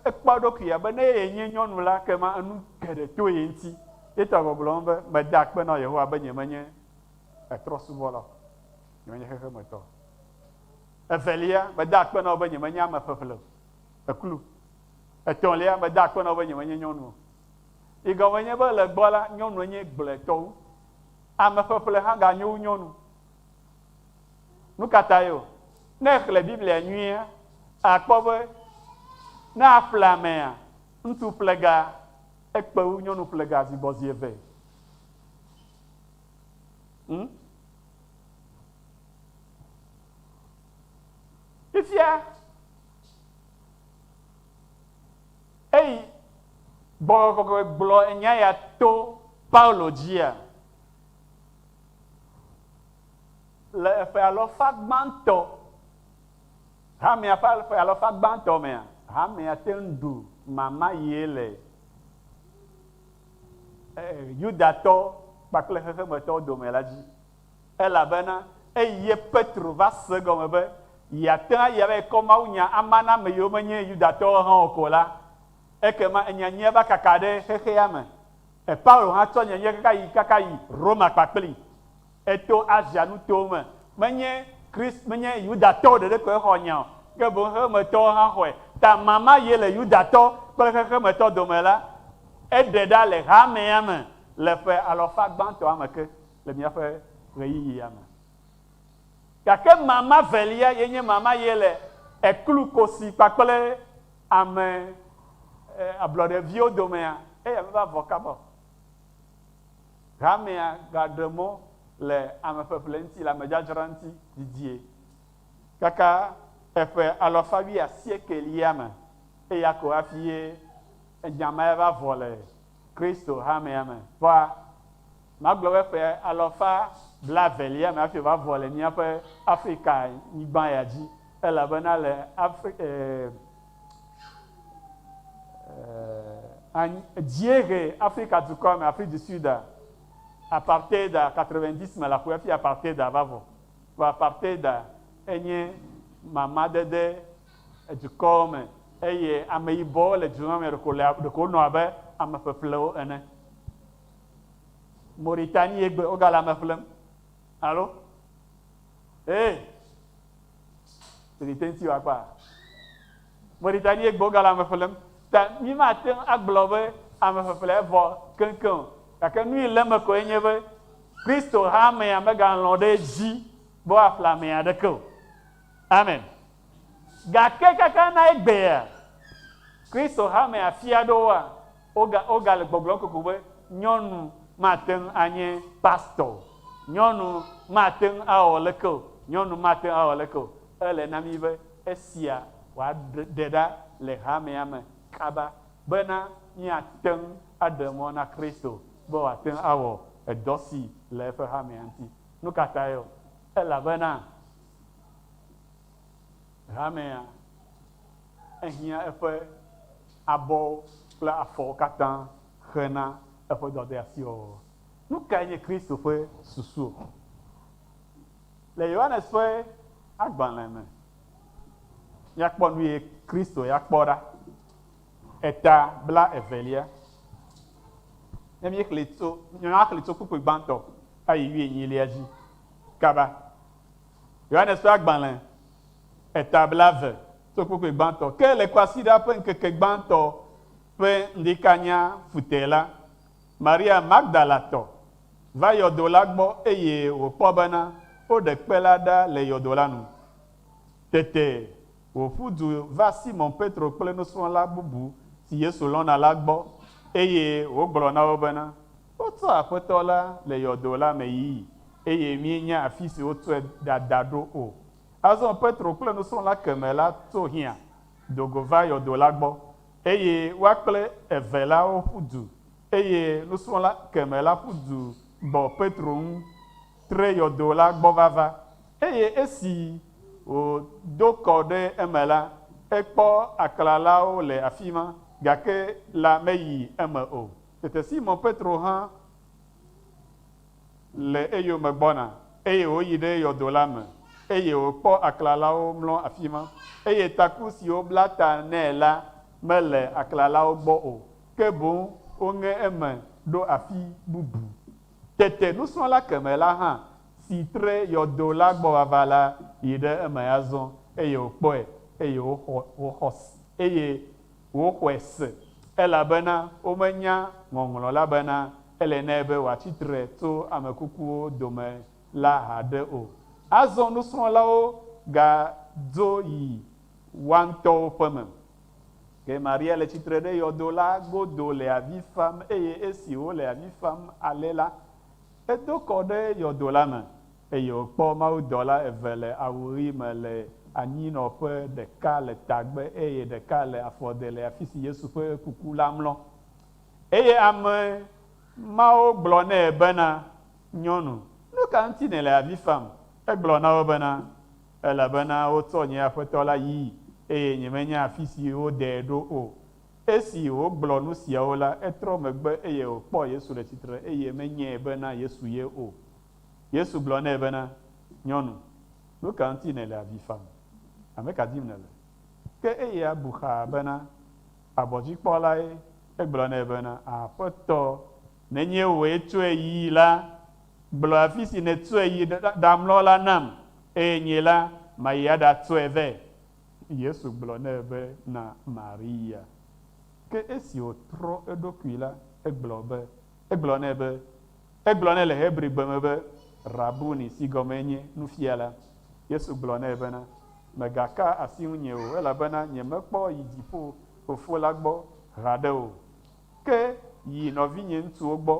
ekpɔ eɖokui be ne ye nye nyɔnu la, ekema enu geɖe to ye ŋuti. Ye ta gbɔgblɔ nu be, Meda akpe na Yehowa be nyemenye etrɔsubɔla o, nyemenye xexemetɔ o. Evelia, meda akpe na wò be nyemenye ame ƒeƒle o, eklu. Etɔ̃lia, meda akpe na wò be nyemenye nyɔnu o. Yi gɔme nye be, le egbɔ la, nyɔnu enye gblɔetɔ wu. Ame ƒeƒle hã ganyo wu nyɔnu. Nu ka tae o? Ne èxlẽ Biblia nyuie àkpɔ be ne aƒle amea, ŋutsu ƒlega ekpe wu nyɔnu ƒlega zi gbɔ zi eve. Hm? Fifia, eyi gbɔgbɔ kɔkɔe gblɔ enya ya to Paulo dzia? Le eƒe alɔfa gbãtɔ, hamea ƒe ƒe alɔfa gbãtɔ mea, hamea te ŋu ɖu mamayee le Yudatɔ kpakple xexemetɔwo dome la dzi, elabena eye Petro va se egɔme be yeate ŋu ayi aɖayi kɔ mawunya ama na ame yiwo menye Yudatɔwo hã o ko la, ekema enya nyuia va kaka ɖe xexea me E Paulo hã tsɔ nyenye kaka yi kaka yi Roma kpakpli. Eto Asia nutowo me. Menye Christ, menye Yudatɔwo ɖeɖe koe xɔ nya o, ke boŋ xexemetɔwo hã xɔe. Ta ma ma ye le Yudatɔ kple xexemetɔ dome la, eɖe ɖa le hamea me le ƒe alɔfa gbãtɔa me ke le míaƒe ɣeyiɣia me. Gake ma ma velia ye nye ma ma ye le eklu kosi kpakple Ame ablɔɖe viwo domea, eya meva vɔ kaba o. Hamea gaɖe mɔ le ame ƒeƒle ŋuti, le ame dzadzra ŋuti didie kaka eƒe alafa wuiasiekɛlia me, eya ko hafi ye enya ma va vɔ le Kristo hamea me. Kpɔa, magblɔ be ƒe alɔfa blaevelia me hafi wòavɔ le míaƒe Afrikanyigba ya dzi, elabena le Afri, e, e, dziehe Afrika dukɔa me, Afrique du Sud, apartheid 90 me la ƒu hafi apartheid va vɔ. Vɔ apartheid enye mamadede. edukɔwo me eye ameyibɔwo le du ma me ɖeko le ɖeko wonɔ abe ame ƒeƒlewo ene. Mauritanie egbe wogale ame ƒlem. Alo? Ee. Tete ŋuti wòakpa. Mauritanie egbe wogale ame ƒlem. Ta mi mate ŋu agblɔ be ame ƒeƒle evɔ keŋkeŋ o. Gake nu yi le eme koe nye be Kristo hamea megalɔ̃ ɖe edzi be woaƒle ame aɖeke o. Amen. Gake kaka na egbea, Kristo hame afi aɖewoa, woga, wogale gbɔgblɔm kokoko be, Nyɔnu mate ŋu anye pastɔ o. Nyɔnu mate ŋu awɔ leke o. Nyɔnu mate ŋu awɔ leke o. Ele na mí be esia wòaɖe ɖa le hamea me kaba bena míate ŋu aɖe mɔ na Kristo be wòate ŋu awɔ edɔ si le eƒe hamea ŋuti. Nu ka tae o? Elabena Hamea, ehiã eƒe abɔwo kple afɔwo katã ʋe na eƒe dɔdeasiwɔwɔ. Nu kae nye Kristo ƒe susu? Le Yohanes ƒe agbalẽ me, míakpɔ nu ye Kristo ya kpɔ ɖa, eta bla evelia. Ne míexlẽ tso, míaxlẽ tso kpukpui gbãtɔ ayi wuienyilia dzi kaba. Yohanes ƒe agbalẽ, eta blaeve, tso kpukpui gbãtɔ ke le kwasiɖa ƒe ŋkeke gbãtɔ ƒe ŋdikanya futɛ la, Maria Magdalatɔ va yɔdo la gbɔ eye wòkpɔ bena woɖe kpe la ɖa le yɔdo la nu. Tete wòƒu du va Simɔn Petro kple nusrɔ̃la bubu si Yesu lɔ̃na la gbɔ eye wògblɔ na wo bena, Wotɔ Aƒetɔ la le yɔdo la me yi, eye míenya afi si wotɔe ɖada ɖo o. Azɔ Petro kple nusrɔ̃la kemɛ la to hiã do go va yɔdo la gbɔ, eye woa kple eve la woƒu du, eye nusrɔ̃la kemɛ la ƒu du gbɔ Petro ŋu tre yɔdo la gbɔ vava, eye esi wòdo kɔ ɖe eme la, ekpɔ aklalawo le afima, gake la meyi eme o. Tete Simɔn Petro hã le eyome gbɔna, eye wòyi ɖe yɔdo la me, eye wòkpɔ aklalawo mlɔ afi ma, eye taku si wobla ta nɛ la mele aklalawo gbɔ o, ke boŋ woŋe eme ɖo afi bubu. Tete nusrɔ̃la kemɛ la hã, si tre yɔdo la gbɔ vava la, yi ɖe eme azɔ, eye wòkpɔe, eye wòxɔ, eye Woxɔe se, elabena womenya Ŋɔŋlɔ la bena ele nɛ be wòatsi tre tso ame kukuwo dome la haɖe o. Azɔ nusrɔ̃lawo gadzo yi woa ŋutɔwo ƒe me. Ke Maria le tsitre ɖe yɔdo la godo le avi fam, eye esi wòle avi fam ale la, edo kɔ ɖe yɔdo la me. eye wòkpɔ mawudɔla eve le awu ɣi me le anyinɔƒe, ɖeka le tagbe eye ɖeka le afɔde le afisi Yesu ƒe kuku la mlɔ. Eye ame mawo gblɔ nɛ bena, Nyɔnu, nuka ŋuti nèle avi fam? Egblɔ na wo bena, Elabena wotsɔ nye Aƒetɔ la yii, eye nyemenya afisi wodee ɖo o. Esi wògblɔ nusiawo la, etrɔ megbe eye wòkpɔ Yesu le tsitre, eye menyae bena Yesu ye o. Yesu gblɔ nɛ bena, Nyɔnu, nu ka ŋuti nèle avi fam? Ame ka dim nèle? Ke eya bu xaa bena, Abɔdzikpɔlae. Egblɔ nɛ bena, Aƒetɔ, nenye wòe tsɔe yi la, gblɔ afi si nètsɔe yi ɖamlɔ la nam, eye nye la, mayi aɖatsɔe vɛ. Yesu gblɔ nɛ be, Na Maria. Ke esi wòtrɔ eɖokui la, egblɔ be, Egblɔ nɛ be, Egblɔ nɛ le Hebrigbe me be, Rabuni, si gɔmee nye, Nufiala. Yesu gblɔ nɛ bena, Mègaka asi ŋunye o, elabena nyemekpɔ yi dziƒo Fofo la gbɔ haɖe o. Ke yi nɔvinyeŋutsuwo gbɔ,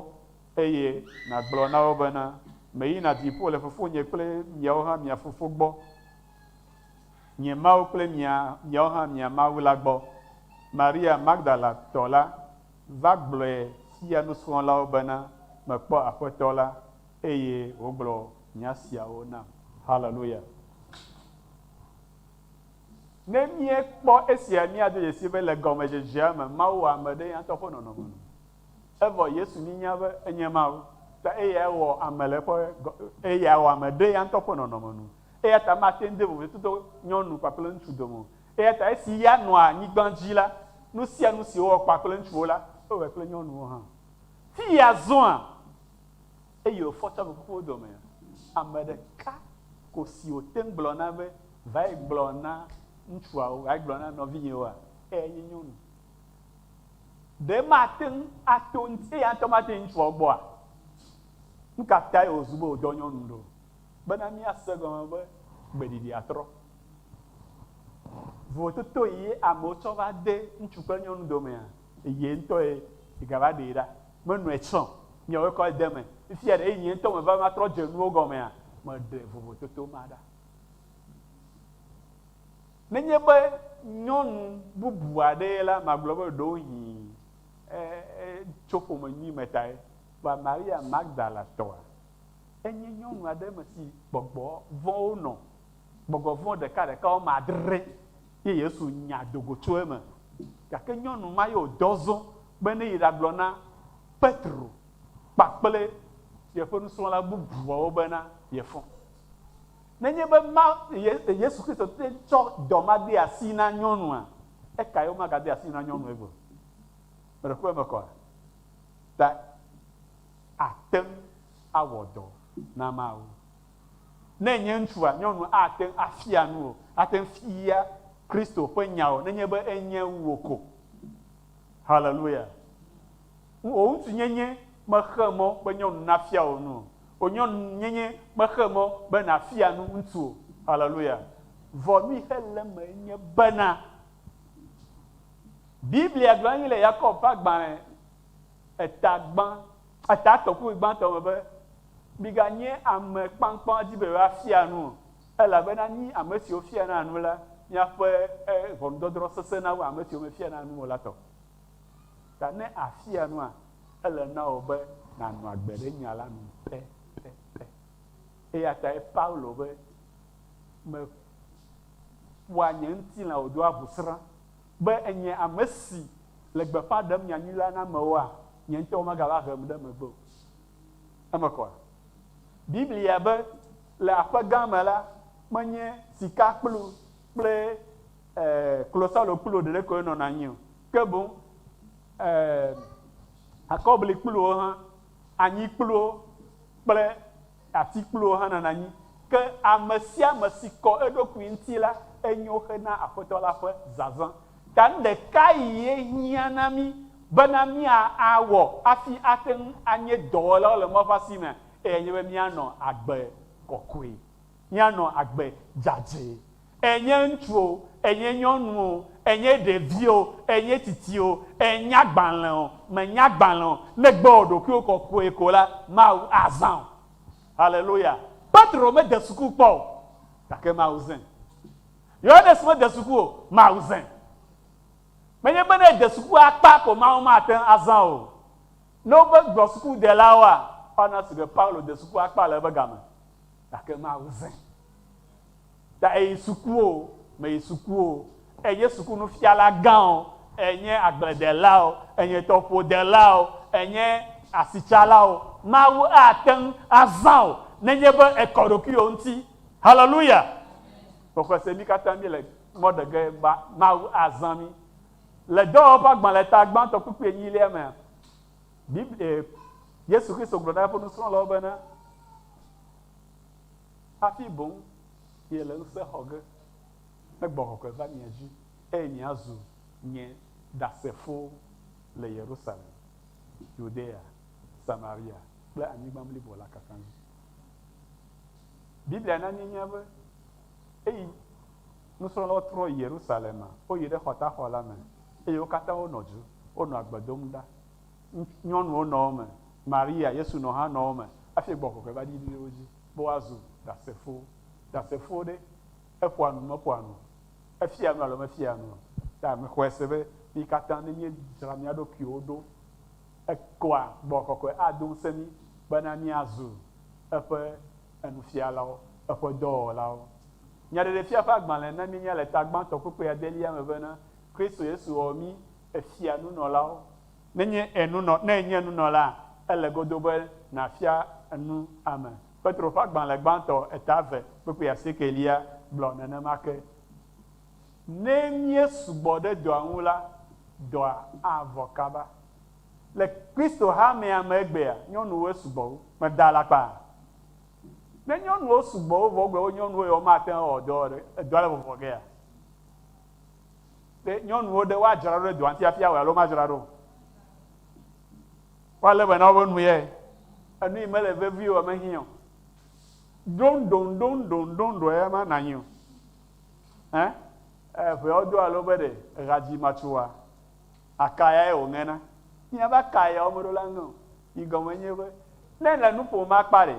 eye nàgblɔ na wo bena, Meyina dziƒo le Fofonye kple miawo hã mia Fofo gbɔ, nye Mawu kple mia, miawo hã mia Mawu la gbɔ. Maria Magdalatɔ la Va gblɔe fia nusrɔ̃lawo bena, Mekpɔ Aƒetɔ la, eye wògblɔ nya siawo nam. Haleluya! Ne míekpɔ esia, míado dzesii be le gɔmedzedzea me, Mawu wɔ ame ɖe eya ŋutɔ ƒe nɔnɔme me. Evɔ Yesu mínya be enye Mawu, ta eyae wɔ ame le eƒe, eyae wɔ ame ɖe eya ŋutɔ ƒe nɔnɔme nu. Eya ta mate ŋu de vovototo nyɔnu kpakple ŋutsu dome o. Eya ta esi ya nɔa anyigba dzi la, nu sia nu si wowɔ kpakple ŋutsuwo la, ewɔe kple nyɔnuwo hã. Fi ya zɔa, eye wòfɔ tso ame kukuwo dome. Ame ɖeka ko si wòte ŋu gblɔna be, Vae gblɔ na ŋutsuawo, vae gblɔ na nɔvinyewoa, eyae nye nyɔnu. Ɖe mate ŋu ato ŋuti, eya ŋutɔ mate ŋu ŋutsuawo gbɔa? Nu ka tae wòzu be wòdɔ nyɔnu ɖo? Bena míase egɔme be gbeɖiɖia trɔ. Vovototo yi ye amewo tsɔ va de ŋutsu kple nyɔnu domea? Ye ŋutɔ ye gava ɖee ɖa. Menɔe tsã o. Miawoe kɔ ede eme. Fifia ɖe nye ŋutɔ meva eme atrɔ dze nuwo gɔmea, meɖe vovototo ma ɖa. Nenye be nyɔnu bubu aɖee ye la, magblɔ be ɖewohĩ etso ƒome nyui me tae. Kpɔ Maria Magdalatɔa. Enye nyɔnu aɖe eme si gbɔgbɔ vɔ̃wo nɔ Gbɔgbɔ vɔ̃ ɖekaɖeka wɔme adre ye Yesu nya do go tso eme. Gake nyɔnu ma ye wòdɔ zɔ be neyi ɖagblɔ na Petro kpakple yeƒe nusrɔ̃la bubuawo bena yefɔ. Nenye be Mawu, Yesu Kristo, te tsɔ dɔ ma de asi na nyɔnua, ekae womagade asi na nyɔnu egbea o? Meɖekpɔ eme kɔa? Ta ate ŋu awɔ dɔ na Mawu. Ne nye ŋutsua nyɔnu ate ŋu afia nu o, ate ŋu fia Kristo ƒe nya o nenye be enye wu wò ko. Haleluya! O ŋutsunyenye mexe mɔ be nyɔnu nafia wò nu o. O nyɔnunyenye mexe mɔ be nàfia nu ŋutsu o. Haleluya! Vɔ nu yi xe le eme nye bena, Biblia gblɔ anyi le Yakob ƒe agbalẽ eta gbã, Etaa tɔkpui gbãtɔ me be, Miganye ame kpakpaŋ di be yewoafia nu o, elabena mí ame siwo fiana nu la, míaƒe ʋɔnudɔdrɔ̃ sesẽna wu ame siwo mefiana nu o la tɔ. Ta ne àfia nua, ele na wò be nànɔ agbe ɖe nya la nu pɛpɛpɛ. Eya tae Paulo be, Meƒoa nye ŋutilã wòdoa ʋusrã. be ènye ame si le gbeƒã ɖem nya nyui la na amewoa, nye ŋutɔ womegava hem ɖe megbe o. Eme kɔa? Biblia be, Le aƒe gã me la, menye sikakplu kple klosalokpluwo ɖeɖe koe nɔna anyi o, ke boŋ akɔblikpluwo hã, anyikpluwo kple Atikplowo hã nana nyi. Ke ame sia ame si kɔ eɖokui ŋuti la, enyo hena Aƒetɔ la ƒe zazã. Ta nu ɖeka ye hiã na mí bena mía a wɔ hafi ate ŋu anye dɔwɔlawo le Maɔƒa si mea, eyae nye be mía nɔ agbe kɔkɔe, mía nɔ agbe dzadzɛ. Ènye ŋutsu o, ènye nyɔnu o, ènye ɖevi o, ènye tsitsi o, ènye agbalẽ o, mènye agbalẽ o, ne ègbe wɔ ɖokuiwò kɔkɔe ko la, Mawu azã wò. Haleluya! Petro mede suku kpɔ o, gake Mawu zãe. Yohanes mede suku o, Mawu zãe. Menye be ne ède suku akpa ko Mawu mate ŋu azã wò o. Ne wova gblɔ sukudelawoa, woana ese be Paulo de suku akpa le eƒe game, gake Mawu zãe. Ta eyi sukuwo me yi sukuwo enye suku nufiala gãwo enye agbledelawo enye tɔƒodelawo enye asitsalawo mawu ateŋ azãwo nenye be ekɔ ɖokuiwò ŋuti haleluya xɔxɔ se mi katã mi le mɔ ɖege ba mawu azã mi le dɔwɔƒe agbalẽta gbãtɔ kpukpui enyilia mea biblia yesu kristo gblɔ na eƒe nusrɔ̃lawo bena hafi boŋ miele ŋusẽ xɔ ge ne gbɔgbɔ kɔkɔe va mia dzi, eye miazu nye Ɖasefowo le Yerusalem, Yudea, Samaria kple anyigba blibo la katã dzi. Biblia na míenya be eyi nusrɔ̃lawo trɔ yi Yerusalema, woyi ɖe xɔtaxɔ la me, eye wo katã wonɔ dzi, wonɔ agbe dom ɖa. Ŋutsu, nyɔnuwo nɔ wo me, Maria, Yesu nɔ hã nɔ wo me hafi Gbɔgbɔ ƒe va ɖi ɖe wo dzi be woazu Ɖasefowo. Ɖasefowo ɖe, eƒoa nu, meƒoa nu o? Efiaa nu alo mefiaa nu o? Ɖe mexɔe se be mí katã ne míedzra mía ɖokuiwo ɖo koa, Gbɔgbɔ Kɔkɔe ado ŋusẽ mí bena míazu eƒe enufialawo, eƒe dɔwɔlawo? Nyaɖeɖefia ƒe agbalẽ na míenya le tagbãtɔ kpukpui adelia me bena, Kristo Yesu wɔ mí efia nunɔlawo Nenye ènunɔ, ne ènye nunɔla, ele godoo be nàfia nu ame. Petro ƒe agbalẽ gbãtɔ eta eve kpukpui asiekelia gblɔ nenema ke. Ne míesu gbɔ ɖe dɔa ŋu la, dɔa avɔ kaba. Le Kristo hamea me egbea, nyɔnuwoe su gbɔ wu. Meda alakpa? Ne nyɔnuwo su gbɔ wu vɔ egbe be nyɔnuwoe, womate ŋu awɔ dɔ o ɖe, dɔa le vɔvɔ gea? Ɖe nyɔnuwo ɖe woadzra ɖo ɖe dɔa ŋuti hafi awɔe alo womadzra ɖo o? Woalé be na woƒe nu ye. Enu yi mele vevi o, mehiã o. Ɖoŋɖoŋɖoŋɖoŋɖoŋɖoŋ ye ma nànyi o. Ẽ? Ẽ, ʋeawo do alo be ɖe eha dzi matso oa? Akayae wòŋe na. Míaƒe akayawo meɖo la ŋe o. Yi gɔme nye be, ne èle nu ƒom akpa ɖe,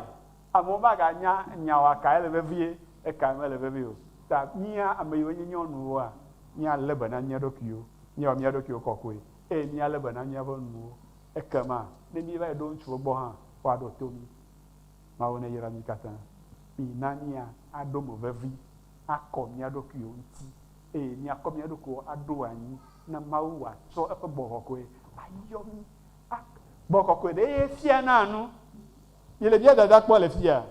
Amewo maganya nya o, akae le vevie, ekae mele vevie o. Ta mía ame yiwo nye nyɔnuwoa, míalé be na mía ɖokuiwo, míawɔ mía ɖokuiwo kɔkɔe, eye míalé be na míaƒe nuwo. Ekema ne míeva yi ɖo ŋutsuwo gbɔ hã, woaɖo to mí. Mawu neyra mí katã. Mina mía aɖo mo vevi akɔ mía ɖokuiwo ŋuti, eye míakɔ mía ɖokuiwo aɖo anyi na Mawu wòatsɔ eƒe gbɔgbɔ kɔkɔe ayɔ mí. A Gbɔgbɔ kɔkɔe ɖee fianaa nu. Miele via dada kpɔ le fiya?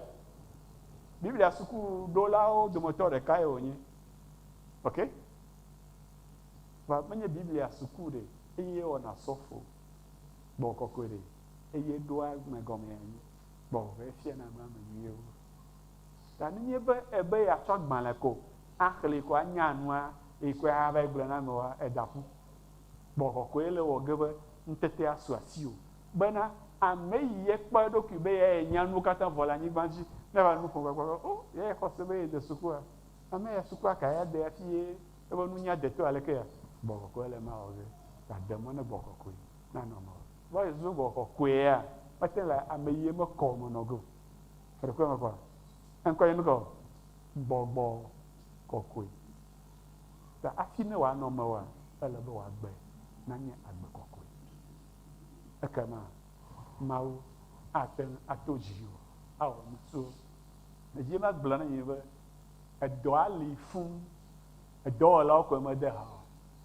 Biblia sukuɖolawo dometɔ ɖekae wònye. Ok? Vɔa menye Biblia suku ɖe eye wɔna sɔfo gbɔgbɔ kɔkɔe ɖe eye ɖoa ame gɔmee anyi gbɔgbɔ be efiana nu ame nyuiwo. Ta nenye be ebe yeatsɔ agbalẽ ko axlẽe ko anya nua eye koe ahava gblɔe na amewoa, èda ƒu. Gbɔgbɔ kɔkɔe le ewɔ ge be nutetea su asiwò Bena, ame yi ye kpɔ eɖokui be yae nya nuwo katã vɔ le anyigba dzi, ne va nu ƒom gbagbã be, O, yae xɔ se be ye de sukua? Ame ya sukua kae ade hafi ye eƒe nunya de to aleke ya? Gbɔgbɔ kɔkɔe le ema wɔ ge ta de mɔ ne gbɔgbɔ kɔkɔe nanɔ eme wɔ. Vɔ esi wogblɔ be gbɔgbɔ kɔkɔea, woate le ame yi ye mekɔ o me nɔ ge o. Eɖo kuku mekɔ a? Eŋkɔ ye mekɔ o. Gbɔgbɔ kɔkɔe. Ta hafi ne wòanɔ eme wɔa, ele be wòagbe nanye agbe kɔkɔe. ekema Mawu ate ŋu ato dziwò awɔ nu tso edzi. Eva gblɔ na mi be edɔa li fũ, edɔwɔlawo koe mede ha o.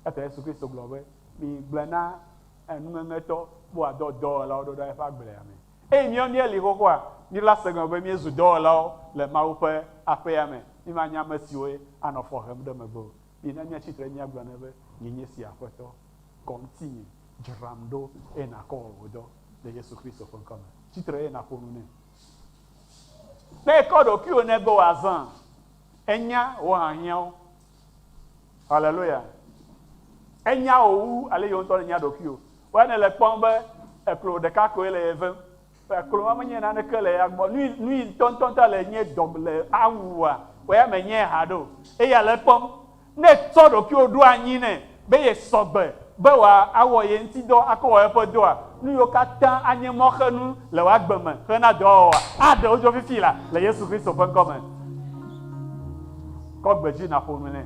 Ete Yesu Kristo gblɔ be, Migblɔe na nuŋeŋetɔ be wòadɔ dɔwɔlawo ɖo ɖa eƒe agblea me. Eye míawo míeli xoxoa, míla segɔme be míezu dɔwɔlawo le Mawu ƒe aƒea me. Mímanye ame siwoe anɔ fɔ hem ɖe megbe o. Mina míatsi tre míagblɔ nɛ be, Nye nye sia, Aƒetɔ, kɔ ŋutinye. Dzram ɖo eye nàkɔ wɔ wò dɔ le Yesu Kristo ƒe ŋkɔ me. Tsi tre eye nàƒo nu nɛ. Ne èkɔ ɖokuiwò nɛ be wòazã, enya wò hiahiãwo. Haleluya! Enya wò wu ale yewò ŋutɔ nènya ɖokuiwò. Woa nèle ekpɔm be eklo ɖeka koe le ye vem. Kplɔ ma menye naneke le ya gbɔ. Nui, nui ŋutɔŋutɔ ta le nye dɔ le awu wòa? Kplɔ ya menye haɖe o. Eya le ekpɔm. Ne ètsɔ ɖokuiwò ɖo anyi nɛ be yesɔgbe be wòa awɔ ye ŋuti dɔ akɔ wɔ eƒe dɔa, nuyiwo katã anye mɔxenu le wò agbe me hena dɔa wɔwɔa, aɖe wo dzo fifi la le Yesu Kristo ƒe ŋkɔ me. Kɔ gbe dzi naƒo nu nɛ.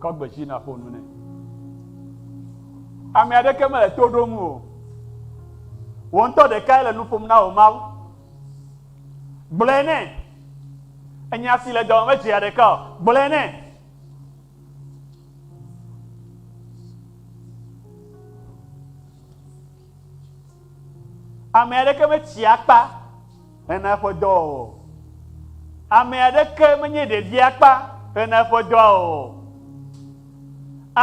Kɔ gbe dzi nàƒo nu nɛ. Ame aɖeke mele to ɖom o. Wò ŋutɔ ɖekae le nu ƒom na wò Mawu. Gblɔe nɛ. Enya si le dɔme medzea ɖeka o. Gblɔe nɛ. Ame aɖeke metsia akpa hena eƒe dɔwɔwɔ o. Ame aɖeke menye ɖevia akpa hena eƒe dɔwɔwɔ o.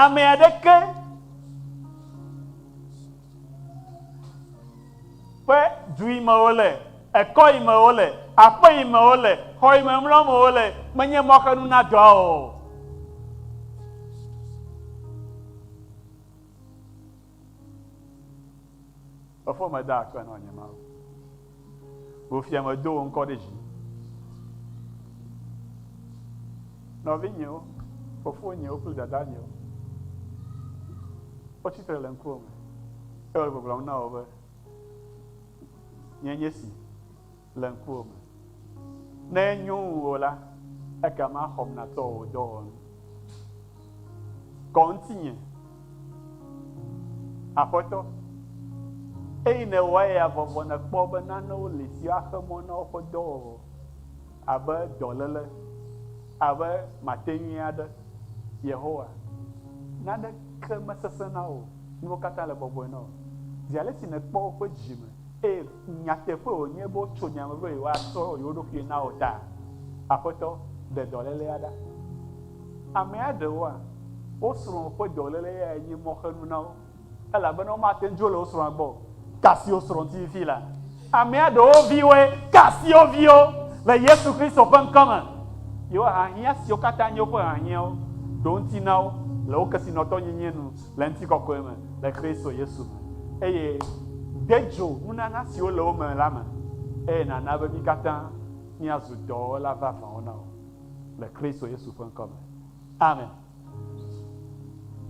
Ame aɖeke ƒe du yi me wòle, ekɔ yi me wòle, aƒe yi me wòle, xɔ yi me mlɔm wòle menye mɔxenu na dɔwɔwɔ o. Efo meda akpe nɔ nye Mawu. Wò fia medo wò ŋkɔ ɖe dzi. Nɔvinyewo, fofonyewo kple dadanyewo, wotsi tre le ŋkuwò me eye wole gbɔgblɔm na wò be, Nye nye si. Le ŋkuwò me. Ne enyo ŋuwò la, ekema xɔm natɔ wò dɔwɔnu. Kɔ ŋutinye, Aƒetɔ. Eyi nèwɔa ya vɔvɔ nèkpɔ be nanewo li siwo axe mɔ na woƒe dɔwɔwɔ, abe dɔléle, abe mate nyui aɖe. Yehowa, naneke mesesẽ na wò, nuwo katã le bɔbɔe na wò. Zi ale si nèkpɔ woƒe dzi me, eye. Nyateƒe wònye be wotso nya me be yewoatsɔ yewo ɖokui na wò ta? Aƒetɔ, ɖe dɔlélea ɖa. Amea ɖewoa, wo srɔ̃ ƒe dɔléle yae nye mɔxenu na wo, elabena womate ŋu dzo le wo srɔ̃a gbɔ o. Kasi wo srɔ̃ ŋuti fifia la, amea ɖewo viwoe. Kasi wo viwo le Yesu Kristo ƒe ŋkɔ me. Yewo hahiã siwo katã nye woƒe hahiãwo ɖo ŋuti na wo le wo kesinɔtɔnyinyi nu. le ŋutikɔkɔe me le Kristo Yesu me, eye de dzo nunana siwo le wo me la me, eye nàna be mí katã míazu dɔwɔla vavãwo na wò le Kristo Yesu ƒe ŋkɔ me. Amen.